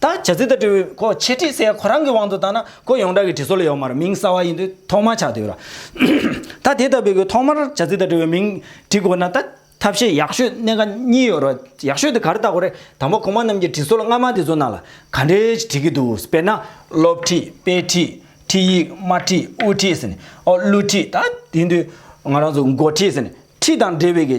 ད་བྱ་ཚིག་དང་འབྲེལ་བའི་གོ་ཕྱེ་བྲིས་གསལ་ཁོ་རང་གི་དབང་དུ་བཏང་ན་གོ་ཡོངས་གྲགས་ཀྱི་བྲིས་སྲོལ་ལ་ཡོད་མ་རེད་མིང་གསར་བ་ཡིན་དུས་ཐོག་མར་ཆགས་དུས་ར་ད་དེ་ལྟ་བུའི་གོ་ཐོག་མར་བྱ་ཚིག་དང་འབྲེལ་བའི་མིང་བྲིས་དགོས་ན་ད་ཐབས་ཤེས་ཡག་ཤོས་གནད་འགག་གཉིས་ཡོད་རེད་ཡག་ཤོས་དེ་ག་རེ་ལྟ་དགོས་རེད་དང་པོ་གོང་མ་རྣམས་ཀྱི་བྲིས་སྲོལ་སྔ་མ་དེ་ཚོ་ནང་ལ་ག་འདྲའི་བྲིས་ཀྱི་འདུག་དཔེར་ན་སློབ་བྲིས་དཔེ་བྲིས་ཁྲིད་ཡིག་དམར་བྲིས་དབུ་བྲིས་ཟེར་ནས་ཨོ་གླུ་བྲིས་ད་དེ་དུས་ང་རང་ཚོ་མགོ་བྲིས་ཟེར་ནས་བྲིས་དང་འབྲེལ་བའི་གི་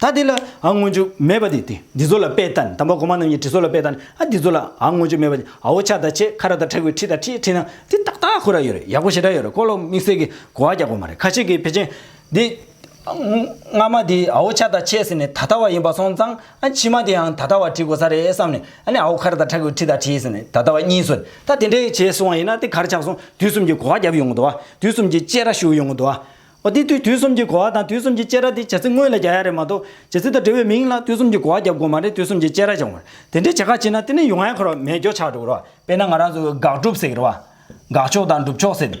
ད་འདི་ལ་ཨ་སྔོན་འཇུག་མེད་པ་འདི་སྟེ་འདི་ཚོ་ལ་དཔེ་ལྟ་ནི་དམ་པ་གོང་མ་རྣམས་ཀྱི་དྲི་ཚོ་ལ་དཔེ་ལྟ་ནི་ཨ་འདི་ཚོ་ལ་ཨ་སྔོན་འཇུག་མེད་པ་འདི་ཨོ་ཆ་ད་ཆེ་ཁ་ར་ད་ཁྲ་ཁུ་ཁྲི་ད་ཁྲི་ཁྲི་ན་འདི་ཏག་ཏག་ཁུ་ར་ཡོད་རེད་ཡག་པོ་ཞེ་དྲག་ཡོད་རེད་ཀོ་ལོག་དམིགས་བསལ་གི་གོ་བ་རྒྱག་པ་མ་རེད་ཁ་ཤེས་ཀྱི་བེ་ཅན་འདི་སྔ་མ་འདི་ཨོ་ཆ་ད་ཆེ་ཟེར་ནས་ད་ལྟ་བ་ཡིན་པ་སོང་ཙང་ཨ་ཕྱི་མ་འདིའང་ད་ལྟ་བ་བྲིས་དགོས་ས་རེད་བསམ་ནས་ཨ་ནི་ཨོ་ཁ་ར་ད་ཁྲ་ཁུ་ཁྲི་ད་ཁྲི་ཟེར་ནས་ད་ལྟ་བ་གཉིས་སོ་ད་དེ་འདྲའི་བྱས་སོང་བ་ཡིན་ན་དེ་གར་ཆགས་སོང་དུས་གསུམ་གྱི་གོ་བ་རྒྱབ་ཡོང་གི་འདུག་བ་དུས་གསུམ་གྱི་དཔྱད་ར་ཞུ་ཡོང་གི་འདུག་བ། འོ་དེ་དུས་དུས་གསུམ་གྱི་གོ་བ་དང་དུས་གསུམ་གྱི་སྐྱེ་ར་དེ་བྱ་ཚིག་དངོས་ལ་རྒྱ་ཡ་རེད་མ་གཏོགས་བྱེད་ཚིག་དང་འབྲེལ་བའི་མིང་ལ་དུས་གསུམ་གྱི་གོ་བ་རྒྱབ་དགོས་མ་རེད་དུས་གསུམ་གྱི་སྐྱེ་ར་བྱུང་བར་དེ་འདྲའི་བྱེད་ཁ་ཕྱིན་ན་དེ་ནི་ཡུ་ངའི་ཁར་བ་མེད་སྐྱོ་ཆགས་འགྲོ་རོ། དཔེར་ན་ང་རང་ཚོས་དགག་སྒྲུབ་ཟེར་རོ། དགག་ཕྱོགས་དང་སྒྲུབ་ཕྱོགས་ཟེར།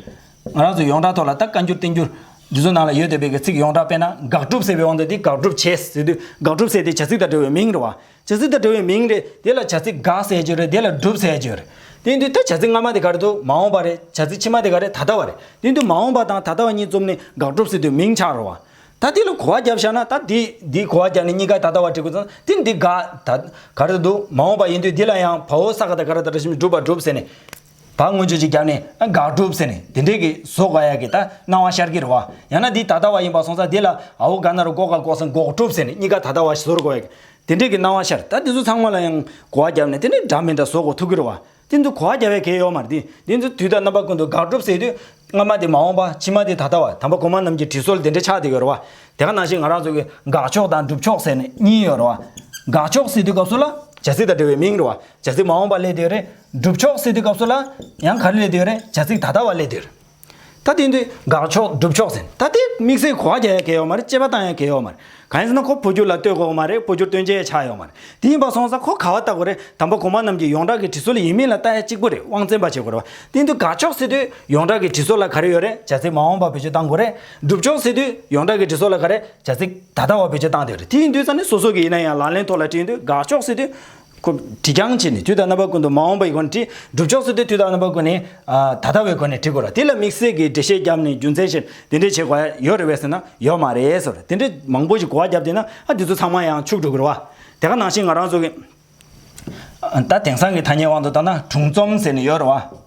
ང་རང་ཚོས་ཡོངས་གྲགས་ཐོག་ལ་ད་བཀའ་འགྱུར་བསྟན་འགྱུར། འདི་ཚོ་ནང་ལ་ཡོད་བསྡད་པའི་གི་ཚིག་ཡོངས་གྲགས་དཔེར་ན་དགག་སྒྲུབ་ཟེར་བའི་དབང་དུ་དེ་དགག་སྒྲུབ་བྱས་ཟེར་དུས་དགག་སྒྲུབ་ཟེར་དེ་བྱ་ཚིག་དང་འབྲེལ་བའི་མིང་རེད་བ། བྱ་ཚིག་དང་འབྲེལ་བའི་མིང་རེད། དེ་ལ་བྱ་ཚིག་དགག་ཟེར་རྒྱུ་རེད། དེ་ལ་སྒྲུབ་ཟེར་རྒྱུ་རེད། དེ་དུས་ད་བྱ་ཚིག་སྔ་མ་དེ་ག་རེད་དོ། མ་འོངས་པ་རེད། བྱ་ཚིག་ཕྱི་མ་དེ་ག་རེད་ད་ལྟ་བ་རེད། དེ་དུས་མ་འོངས་པ་དང་ད་ལྟ་བ་གཉིས་བཙུམས་ནས་དགག་སྒྲུབ་ཟེར་དུས་མིང་ཆགས་རུང་བ། ད་དེ་ལ་གོ་བ་བརྒྱབ་བཞག་ན་ད་དེ་འདིས་གོ་བ་བརྒྱབ་ནས་གཉིས་ཀ་ད་ལྟ་བ་བྲི་དགོས་ཙང་དེ་འདི་དགག་ད་ག་རེད་དོ། མ་འོངས་པ་ཡིན་དུས་དེ་ལ་ཡང་བ་འོ་ས་ག་ད་ག་ར་ད་ར་བཞིན་སྒྲུབ་བ་སྒྲུབ་ཟེར་ནས། བ་མངོན་བརྗོད་ཅིག་རྒྱབ་ནས་དགག་སྒྲུབ་ཟེར་ནས་དེ་འདྲའི་གི་བཟོ་དགའ་ཡག་གི་ད་སྣང་བ་ཤར་གི་རེད་བ། ཡང་ན་འདི་ད་ལྟ་བ་ཡིན་པ་སོང་ས་དེ་ལ་ཨའོ་དགའ་ན་རུ་འགོག་དགའ་འགོག་ཟེར་འགོག་སྒྲུབ་ཟེར་ནས་གཉིས་ཀ་ད་ལྟ་བ་བཟོར་དགོ་ཡག་གི། དེ་འདྲའི་གི་སྣང་བ་ཤར་ད་འདི་ཚོ་ཚང་མ་ལ་ཡང་གོ་བ་རྒྱབ་ནས་དེ་འདྲའི་འདྲ་མི་འདྲ་བཟོ་དགོ་ཐུག་གི་རེད་བ། དེ་ཚོ་གོ་བ་རྒྱབ་བའི་གེ་ཡོག་མ་རེད་དེ་འདི་ཚོ་དུས་ད་རྣམ་པ་ཀུན་ཏུ་དགག་སྒྲུབ་ཟེར་དུས་སྔ་མ་དེ་མ་འོངས་པ་ཕྱི་མ་དེ་ད་ལྟ་བ་དམ་པ་གོང་མ་རྣམས་ཀྱི་དྲི་སོལ་དེ་འདྲའི་ཆགས་དེ་གི་རེད་བ། དེ་ག་ནང་བཞིན་ང་རང་ཚོ་གི་དགག་ཕྱོགས་དང་སྒྲུབ་ཕྱོགས་ཟེར་ནས་གཉིས་ཡོད་རེད་བ། དགག་ཕྱོགས་ཟེར་དུས་སྐབས་སུ་ལ། བྱ་ཚིག་དང་འབྲེལ་བའི་མིང་རེད་བ། བྱ་ཚིག་མ་འོངས་པ་ལས་དེ་རེད། སྒྲུབ་ཆོག་སེ་དེ་སྐབས་སུ་ལ། ཡང་ག་རེ་ལས་འདིར་བྱ་ཚིག་ད་ལྟ་བ་ལས་འདིར། ད་དེ་འདི་དགག་ཆོག་སྒྲུབ་ཆོག་ཟེར། ད་དེ་དམིགས་བསལ་གོ་བ་རྒྱག་ཡ་གལ་ཡོག་མ་རེད་དཔྱད་པ་བཏང་ཡ་གལ་ཡོག་མ་རེད། གང་ཡིན་ཟེར་ན་ཁོ་འཕོ་འགྱུར་ལ་ལྟོས་དགོས་མ་རེད་འཕོ་འགྱུར་སྟོན་བྱེད་ཡ་ཆགས་ཡོག་མ་རེད། དེ་ཡིན་པ་སོང་ས་ཁོ་ག་བ་ལྟ་གོ་རེད་དམ་པ་གོང་མ་རྣམས་ཀྱི་ཡོངས་གྲགས་ཀྱི་དྲི་སོ་ལ་ཡིན་མིན་ལ་ལྟ་ཡ་གཅིག་པོ་རེད་དབང་བཙན་པ་བྱེད་དགོས་རེད། དེ་འདི་དགག་ཆོག་སེ་དུས་ཡོངས་གྲགས་ཀྱི་དྲི་སོ་ལ་ག་རེ་ཡོད་རེད་བྱ་ཚིག་མ་འོངས་པ་བེད་སྤྱོད་བཏང་དགོས་རེད། སྒྲུབ་ཆོག་སེ་དུས་ཡོངས་གྲགས་ཀྱི་དྲི་སོ་ལ་ག་རེ་བྱ་ཚིག་ད་ལྟ་བ་བེད་སྤྱོད་བཏང་དེ་རེད་དེ་ཡིན་དུས་ས་ནི་སོ་སོ་གི་ཡིན་ན་ཡང་ལག་ལེན་ཐོག་ལ་བྲིས་འདུག་དགག་ཆོག་སེ་དུས་སྐུ། བྲི་རྐྱང་བྱས་ནས་དུས་དང་རྣམ་པ་ཀུན་ཏུ་མ་འོངས་པའི་སྒོ་ནས་བྲི། སྒྲུབ་ཕྱོགས་སུ་དེ་དུས་དང་རྣམ་པ་ཀུན་ནས། ད་ལྟ་བའི་སྒོ་ནས་བྲི་དགོས་ལ་དེ་ལ་དམིགས་བསལ་གྱི་འགྲེལ་བཤད་བརྒྱབ་ནས་རྒྱུ་མཚན་བཤད་དེ་འདྲས་བྱེད་དགོས་ཡ་ཡོད་རེད་བས་ཟེར་ན་ཡོད་མ་རེད་ཟེར་དེ་འདྲས་མང་པོ་ཞིག་གོ་བ་བརྒྱབ་བསྡད་ན་ཨ་འདི་ཚོ་ཚང་མ་ཡང་ཕྱུགས་འགྲོ་གི་རེད་བ། དེ་ག་ནང་བཞིན་ང་རང་ཚོ་གི། ད་དེང་སང་གི་ཐ་སྙད་དབང་དུ་བཏང་ན་དྲུང་རྩོམ་ཟེར་ནས་ཡོད་རེད་བ།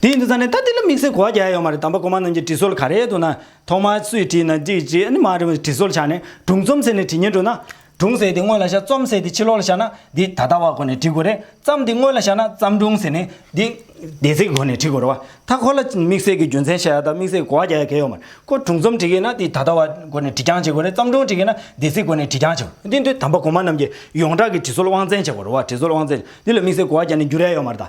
དེ་ཡིན་དུ་ཙང་ནས་ད་དེ་ལ་དམིགས་བསལ་གོ་བ་རྒྱག་ཡ་ཡོད་མ་རེད་དམ་པ་གོ་མ་ནང་གི་དྲི་སོལ་ག་རེད་འདུག་ན་ཐོག་མར་སུས་བྲིས་ན་འགྲིག་ཅེས་ཨ་ནི་མ་རེད་མོད་དྲི་སོལ་བྱ་ནས་སྒྲུང་རྩོམ་ཟེར་ནས་བྲིས་ཉན་འགྲོ་ན། སྒྲུང་ཟེར་དེ་སྔོན་ལ་བཞག་རྩོམ་ཟེར་དེ་ཕྱི་ལོག་ལ་བཞག་ན་འདི་ད་ལྟ་བ་གོ་ནས་བྲི་དགོས་རེད་བརྩམས་དེ་སྔོན་ལ་བཞག་ན་བརྩམས་སྒྲུང་ཟེར་ནས་འདི་འདས་ཚེས་ཀྱི་གོ་ནས་བྲི་དགོས་རེད་བ་ད་གོ་ལ་དམིགས་བསལ་གྱི་རྒྱུ་མཚན་བཤད་ཡ་དང་དམིགས་བསལ་གི་གོ་བ་རྒྱག་ཡ་ག་ཡོད་མ་རེད་ཁོ་སྒྲུང་རྩོམ་བྲི་གི་ན་འདི་ད་ལྟ་བ་གོ་ནས་བྲི་རྐྱང་བྱེད་དགོས་རེད་བརྩམས་སྒྲུང་བྲི་གི་ན་འདས་ཚེས་གོ་ནས་བྲི་རྐྱང་བྱེད་དགོས་འདི་འདུག་དམ་པ་གོ་མ་རྣམས་ཀྱིས་ཡོངས་གྲགས་ཀྱི་དྲི་སོལ་དབང་བཙན་བྱེད་དགོས་རེད་བ་དྲི་སོལ་དབང་བཙན་འདི་ལ་དམིགས་བསལ་གོ་བ་རྒྱག་ནས་འགྱུར་ཡ་ཡོད་མ་རེད་ད།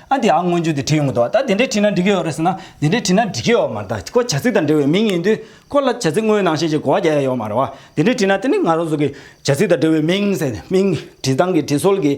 ཨ་དེ་ཨ་སྔོན་ཆུ་དེ་བྲིས་ཡོང་གི་འདུག་ད་དེ་འདྲས་བྲིས་ན་འགྲིག་གི་ཡོད་རེད་ཟེར་ན་དེ་འདྲས་བྲིས་ན་འགྲིག་གི་ཡོད་མ་རེད་ད་ཁོ་བྱ་ཚིག་དང་འབྲེལ་བའི་མིང་ཡིན་དུས་ཁོ་ལ་བྱ་ཚིག་དངོས་ནང་བཤད་ཅེས་གོ་བ་རྒྱག་ཡ་ཡོད་མ་རེད་བ། དེ་འདྲས་བྲིས་ན་དེ་ནི་ང་རང་ཚོ་གི་བྱ་ཚིག་དང་འབྲེལ་བའི་མིང་ཟེར་ནས་མིང་བྲིས་སྟངས་ཀྱི་བྲིས་སྲོལ་གྱི།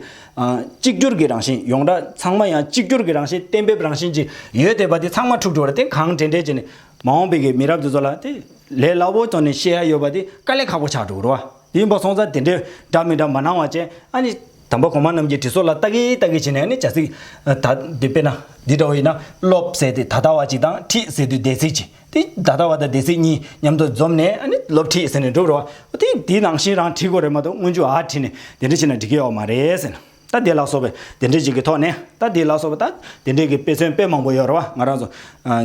གཅིག་གྱུར་གྱི་རང་བཞིན་ཡོངས་གྲགས་ཚང་མ་ཡང་གཅིག་གྱུར་གྱི་རང་བཞིན་གཏན་འབེབས་རང་བཞིན་གྱིས་ཡོད་དེ་བ་དེ་ཚང་མ་འཁྲུག་འགྲོ་རེད་དེ་གང་འདྲས་འདྲས་བྱས་ནས་མ་འོངས་པའི་གི་མི་རབས་དེ་ཚོ་ལ་དེ་ལས་སླ་བོ་དོན་ནི་བཤད་ཡ་ཡོད་བ་དེ་དཀའ་ལས་ཁག་པོ་ཆགས་འགྲོ་གི་རེད་བ། དེ་ཡིན་པ་སོང་ཙང་དེ་འདྲས་འདྲ་མི་འདྲ་མ་གནང་བ་བཅས་ཨ་ནི། དང་པོ་གོང་མ་རྣམས་ཀྱིས་དྲི་སོགས་ལ་བརྟག་གི་བརྟག་གི་བྱས་ནས་ནི་བྱ་ཚིག། ད། འདི་དཔེར་ན། འདི་འདྲ་བ་ཡིན་ན། ལོབས་ཟེར་ཏེ་ད་ལྟ་བ་ཅིག་དང་ཁྲིད་ཟེར་དུས་སྡེ་ཚིག་ཅིག་སྟེ་ད་ལྟ་བ་དང་སྡེ་ཚིག་གཉིས་མཉམ་དུ་འཛོམས་ནས་ནི་ལོབས་ཁྲིད་ཟེར་ནས་འགྲུབ་རོགས། དེ་དེ་ནང་བཞིན་རང་བྲིས་གོ་རེ་མ་གཏོགས་སྔོན་ཆུ་ཨ་བྲིས་ནས་དེ་འདྲ་བྱས་ན་འགྲིག་གི་ཡོག་མ་རེད་ཟེར་ན། ད་དེ་ལ་སོགས་པའི་དེ་འདྲ་ཅིག་གི་ཐོག་ནས་ད་དེ་ལ་སོགས་པ་ད་དེ་འདྲའི་གི་དཔེ་མཚོན་དཔེ་མང་པོ་ཡོད་རེད་བ་ང་རང་ཚོ།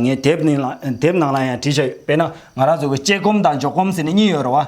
ངའི་དེབ་ནི་ལ་དེབ་ནང་ལ་ཡང་བྲིས་ཆ་ཡོད་དཔེར་ན་ང་རང་ཚོ་གི་དཔྱད་སྒོམ་དང་འཇོག་སྒོམ་ཟེར་ནས་གཉིས་ཡོད་རེད་བ།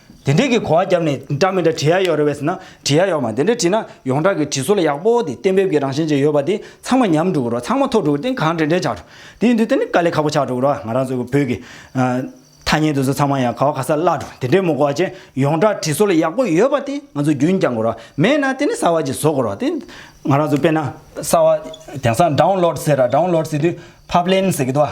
དེ་འདྲས་ཀྱི་གོ་བ་བརྒྱབ་ནས་འདྲ་མི་འདྲ་བྲིས་ཡ་ཡོད་རེད་བས་ཟེར་ན་བྲིས་ཡ་ཡོད་མ་དེ་འདྲས་བྲིས་ན་ཡོངས་གྲགས་ཀྱི་བྲིས་སྲོལ་ཡག་པོ་དེ་གཏན་འབེབས་ཀྱི་རང་བཞིན་ཅིག་ཡོད་པ་དེ་ཚང་མ་ཉམས་འགྲོ་གི་རོ་ཚང་མ་ཐོག་འགྲོ་གི་དེ་གང་དྲན་དྲན་ཆགས་འགྲོ་དེའི་མདུན་དེ་ནི་དཀའ་ལས་ཁག་པོ་ཆགས་འགྲོ་གི་རོ་ང་རང་ཚོའི་བོད་ཀྱི། ཐ་སྙད་དེ་ཚོ་ཚང་མ་ཡང་ག་བ་ག་ས་བརླག་འགྲོ་དེ་འདྲས་མོ་གོ་བ་ཅན་ཡོངས་གྲགས་བྲིས་སྲོལ་ཡག་པོ་ཡོད་པ་དེ་ང་ཚོ་རྒྱུན་བསྐྱང་གི་རོ་མེད་ན་དེ་ནི་གསར་བ་ཅིག་བཟོ་གི་རོ་དེ་ང་རང་ཚོ་དཔེར་ན། གསར་བ་དེང་སང Download ཟེར་ར Download ཟེར་དུས Publen ཟེར་གི་འདུག་བ།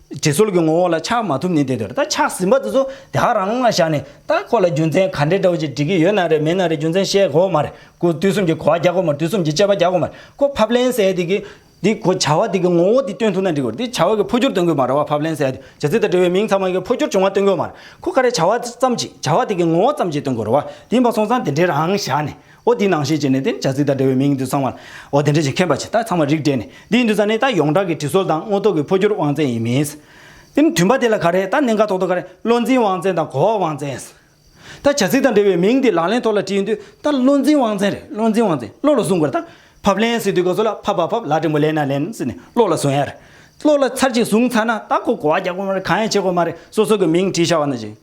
དྲི་ཚོར་གྱི་ངོ་བོ་ལ་ཆགས་མ་ཐུབ་ནི་དེ་དོན་རེད་ད་ཆགས་ཟིན་པ་དེ་ཚོ་དེ་ཧ་རང་ལ་བཞག་ནས་ད་ཁོ་ལ་རྒྱུ་མཚན་ག་འདྲའི་འདྲ་བོ་ཅིག་འདྲི་གི་ཡོད་ན་རེད་མེད་ན་རེད་རྒྱུ་མཚན་བཤད་དགོས་མ་རེད་ཁོ་དུས་གསུམ་གྱི་གོ་བ་རྒྱག་དགོས་མ་རེད་དུས་གསུམ་གྱི་དཔྱད་པ་རྒྱག་དགོས་མ་རེད་ཁོ་ཕབ་ལེན་ཟེར་ཡ་དེ་གི་དེ་ཁོ་བྱ་བ་དེ་གི་ངོ་བོ་དེ་སྟོན་ཐུབ་ན་འགྲིག་གོ་རེད་དེ་བྱ་བ་གི་འཕོ་འགྱུར་སྟོན་དགོས་མ་རེད་བ་ཕབ་ལེན་ཟེར་ཡ་དེ་བྱ་ཚིག་དང་འབྲེལ་བའི་མིང་ཚང་མ་གི་འཕོ་འགྱུར་བྱུང་བ་སྟོན་དགོས་མ་རེད་ཁོ་ག་རེ་བྱ་བ་ཙམ་གྱི་བྱ་བ་དེ་གི་ངོ་བོ་ཙམ་གྱི་སྟོན་དགོས་རེད་བ་དེ་ཡིན་པ་སོང་ཙང་དེ་འདྲའི་རང་བཞག་ནས། འོ་དེའི་ནང་ཞེས་བྱས་ནས་དེ་ནི་བྱ་ཚིག་དང་འབྲེལ་བའི་མིང་ཡིན་དུ་ཚང་བར། འོ་དེ་འདྲ་ཞིག་མཁྱེན་པ་ཇི་ལྟར་ཚང་བར་རིགས་བསྒྲེས་ནས་འདི་ཡིན་དུ་ཚང་ནི་ད་ཡོངས་གྲགས་ཀྱི་དྲི་སོལ་དང་དངོས་རྟོགས་ཀྱི་འཕོ་འགྱུར་དབང་བཙན་ཡིན་མིན། དེ་ནི་དུས་འབའ་དེ་ལ་ག་རེད་ད་གནད་འགག་ཐོག་ཏུ་ག་རེད་བློ་འཛིན་དབང་བཙན་དང་གོ་བ་དབང་བཙན། ད་བྱ་ཚིག་དང་འབྲེལ་བའི་མིང་འདི་ལག་ལེན་ཐོག་ལ་བྲིས་ཡོད་དུས་ད་བློ་འཛིན་དབང་བཙན་རེད་བློ་འཛིན་དབང་བཙན་བློ་ལ་བཟུང་དགོས་རེད་ད། ཕབ་ལེན་ཟེར་དུས་ག་ཚོད་ལ་ཕབ་བ་ཕབ་ལག་བྲིང་པོ་ལེན་ན་ལེན་ཟེར་ནས་བློ་ལ་བཟུང་ཡ་རེད། བློ་ལ་ཚར་གཅིག་བཟུང་ཚར་ན་ད་ཁོ་གོ་བ་རྒྱག་དགོས་མ་རེད་གང་ཡང་བྱེད་དགོས་མ་རེད་སོ་སོ་གི་མིང་བྲིས་བཞག་བ་ན་བཞིན།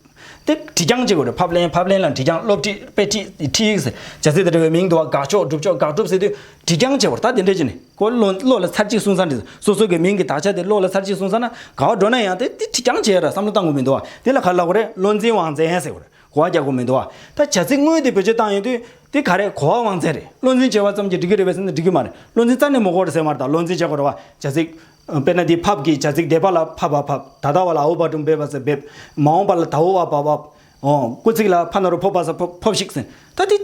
སྟེ། བྲིས་རྐྱང་གཅིག་གོ། ཕབ་ལེན་ཕབ་ལེན་ལ་བྲིས་རྐྱང་སློབ་ཁྲིད་དཔེ་ཁྲིད་ཁྲིད་ཡིག་ཟེར། བྱ་ཚིག་དང་འབྲེལ་བའི་མིང་འདུ་བ་དགག་ཕྱོགས་སྒྲུབ་ཕྱོགས་དགག་སྒྲུབ་ཟེར་དུས། བྲིས་རྐྱང་བྱེད་པར་ད་དེ་འདྲ་ཅི་ནས་གོ། བློ་ལ་ཚར་གཅིག་གསུངས་ས་འདི། སོ་སོ་གའི་མིང་གི་དག་ཆ་དེ་བློ་ལ་ཚར་གཅིག་གསུངས་ས་ན་ག་བ་འགྲོ་ན་ཡང་དེ་བྲིས་རྐྱང་བྱས་ར་བསམ་བློ་བཏང་གོ་མི་འདུག་བ། དེ་ལ་ག་ལ་གོ་རེ་བློ་འཛིན་དབང་བཙན་ཟེར་གོ་རེ་གོ་བ་རྒྱག་གོ་མི་འདུག་བ། ད་བྱ་ཚིག་དངོས་དེ་བེད་སྤྱོད་བཏང་ཡོད་དུས། དེ་ག་རེ་གོ་བ་དབང་བཙན་རེད་བློ་འཛིན་བྱས་བ་ཙམ་གྱིས་འགྲིག་གི་རེད་བས་སེམས་ན་འགྲིག་གི་མ་རེད་བློ་འཛིན་རྩ་ནས་མོ་གོ་རེ་ཟེར་མ་རེད་ད་བློ་འཛིན་བྱས་གོ་རེ་བ། བྱ་ཚིག། དཔེར་ན་འདི་ཕབ་ཀྱི་བྱ་ཚིག་འདས་པ་ལ་ཕ་བ་ཕབ་ད་ལྟ་བ་ལ་ཨའུ་བ་ཀྲུང་འབེབས་བ་ཟེར་འབེབས་མ་འོངས་པ་ལ་དྭོ་བ་བ་བབས་འོང་སྐུལ་ཚིག་ལ་ཕ་ན་རུ་ཕོབ་བ་ཟ་ཕོབ་ཕོབས་ཤིག་ཟེར་ད་འདི།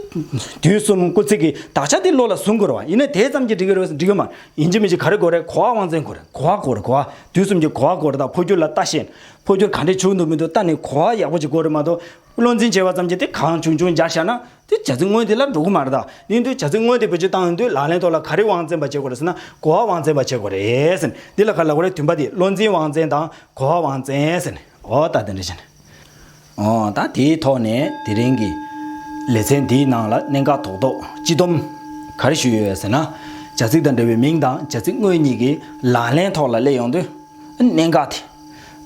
དུས་གསུམ་སྐུལ་ཚིག་གི་དག་ཆ་འདི་བློ་ལ་ཟུང་དགོས་རེད་བ་ཡིན་ན་དེ་ཙམ་གྱིས་འགྲིག་གི་རེད་བ་འགྲིག་གི་མ་ཡིན་ཅི་མི་ཅི་ག་རེ་དགོས་རེད་གོ་བ་དབང་བཙན་དགོས་རེད་གོ་བ་གོ་རེད་གོ་བ་དུས་གསུམ་གྱི་གོ་བ་གོ་རེད་ད་འཕོ་འགྱུར་ལ་ལྟ་ཤེས་ན་འཕོ་འགྱུར་ག་འདྲས་བྱུང་འདུག་མི་འདུག་ལྟ་ནས་གོ་བ་ཡག་པོ་ཅིག་གོ་རེད་མ་གཏོགས་བློ་འཛིན་བྱས་པ་ཙམ་གྱིས་དེ་གང་བྱུང་བྱུང་འཇགས་བཞག་ན། དེ་བྱ་ཚིག་དངོས་དེ་ལ་འགྲོ་གི་མ་རེད་ད། དེ་འདོད་བྱ་ཚིག་དངོས་དེ་བོད་སྤྱི་བཏང་ཡོང་དུས་ལག་ལེན་ཐོག་ལ་ག་རེ་དབང་བཙན་པ་བྱེད་དགོས་རེད་ཟེར་ན་གོ་བ་དབང་བཙན་པ་བྱེད་དགོས་རེད། འདི་ལ་ག་ལ་གོ་རེད་དུས་འབའ་དེ་བློ་འཛིན་དབང་བཙན་དང་གོ་བ་དབང་བཙན། འོ་ད་དེ་འདྲ་བྱས་ན། འོ་ད་དེའི་ཐོག་ནས་དེ་རིང་གི་ལེ་ཚན་འདིའི་ནང་ལ་གནད་འགག་ཐོག་ཐོག་སྤྱི་སྡོམ་ག་རེ་ཞུས་ཡོད་ཟེར་ན། བྱ་ཚིག་དང་འབྲེལ་བའི་མིང་དང་བྱ་ཚིག་དངོས་གཉིས་ཀྱིས་ལག་ལེན་ཐོག་ལ་སླེབས་ཡོང་དུས་གནད་འགག་དེ།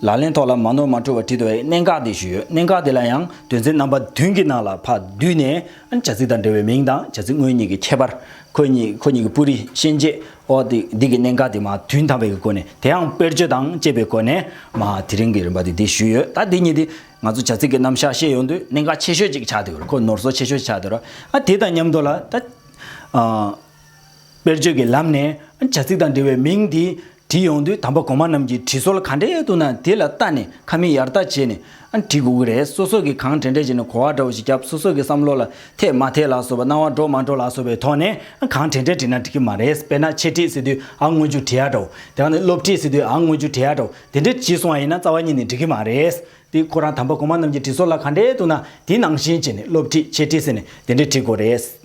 ལག་ལེན་ཐོག་ལ་མ་ནོར་མ་འཁྲུལ་བ་བྲིས་འདུག་གནད་འགག་དེ་ཞུས་ཡོད་གནད་འགག་དེ་ལ་ཡང་དོན་ཚན་རྣམ་པ་བདུན་གྱི་ནང་ལ་ཕ་བསྡུས་ནས་བྱ་ཚིག་དང་འབྲེལ་བའི་མིང་དང་བྱ་ཚིག་དངོས་གཉིས་ཀྱི་ཁྱད་པར། ཁོ་གཉིས་ཁོ་གཉིས་ཀྱི་སྤུ་རིས་ཤན་འབྱེད། ཨོ་འདི་གི་གནད་འགག་དེ་མ་བདུན་དམ་པའི་གི་སྒོ་ནས་དེའང་དཔེར་བརྗོད་དང་བཅས་པའི་སྒོ་ནས་མ་དེ་རིང་གི་རིམ་པ་དེ་འདི་ཞུས་ཡོད་ད་འདི་གཉིས་དེ་ང་ཚོ་བྱ་ཚིག་གི་རྣམ་གཞག་ཤེས་ཡོང་དུས་གནད་འགག་ཆེ་ཤོས་ཅིག་ཆགས་འདུག་ཁོ་ནོར་སོ་ཆེ་ཤོས་ཆགས་འདུག་ཨ་དེ་དང་མཉམ་དུ་ལ་ད། དཔེར་བརྗོད་ཀྱི་ལམ་ནས་བྱ་ཚིག་དང་འབྲེལ་བའི་མིང་འདི་བྲིས་ཡོང་དུས་དམ་པ་གོང་མ་རྣམས་ཀྱི་བྲིས་སྲོལ་ག་འདྲའི་འདུག་ན་དེ་ལ་བལྟ་ནས་ཁ་མིག་ཡར་ལྟ་བྱས་ནས་བྲིས་དགོས་ཀྱི་རེད་སོ་སོ་གིས་གང་དྲན་དྲན་བྱས་ནས་གོ་བ་འདྲ་བོ་ཞིག་རྒྱབ་སོ་སོ་གི་བསམ་བློ་ལ་འཐད་མ་འཐད་ལགས་སོ་བ་སྣང་བ་འགྲོ་མ་འགྲོ་ལགས་སོ་བའི་ཐོག་ནས་གང་དྲན་དྲན་བྲིས་ན་འགྲིག་གི་མ་རེད་དཔེར་ན་འཆད་ཁྲིད་ཟེར་དུས་ཨ་དངོས་རྒྱུ་བྲིས་ཡ་འདྲ་བོ་དེ་ག་ནི་སློབ་ཁྲིད་ཟེར་དུས་ཨ་དངོས་རྒྱུ་བྲིས་ཡ་འདྲ་བོ་དེ་འདྲས་བྲིས་སོང་བ་ཡིན་ན་རྩ་བ་ཉིད་ནས་འགྲིག་གི་མ་རེད་དེ་ཁོ་རང་དམ་པ་གོང་མ་རྣམས་ཀྱི་བྲིས་སྲོལ་ལ་ག་འདྲའི་འདུག་ན་དེ་ནང་བཞིན་བྱས་ནས་སློབ་ཁྲིད་འཆད་ཁྲིད་ཟེར་ནས་དེ་འདྲས་བྲིས་དགོས་རེད།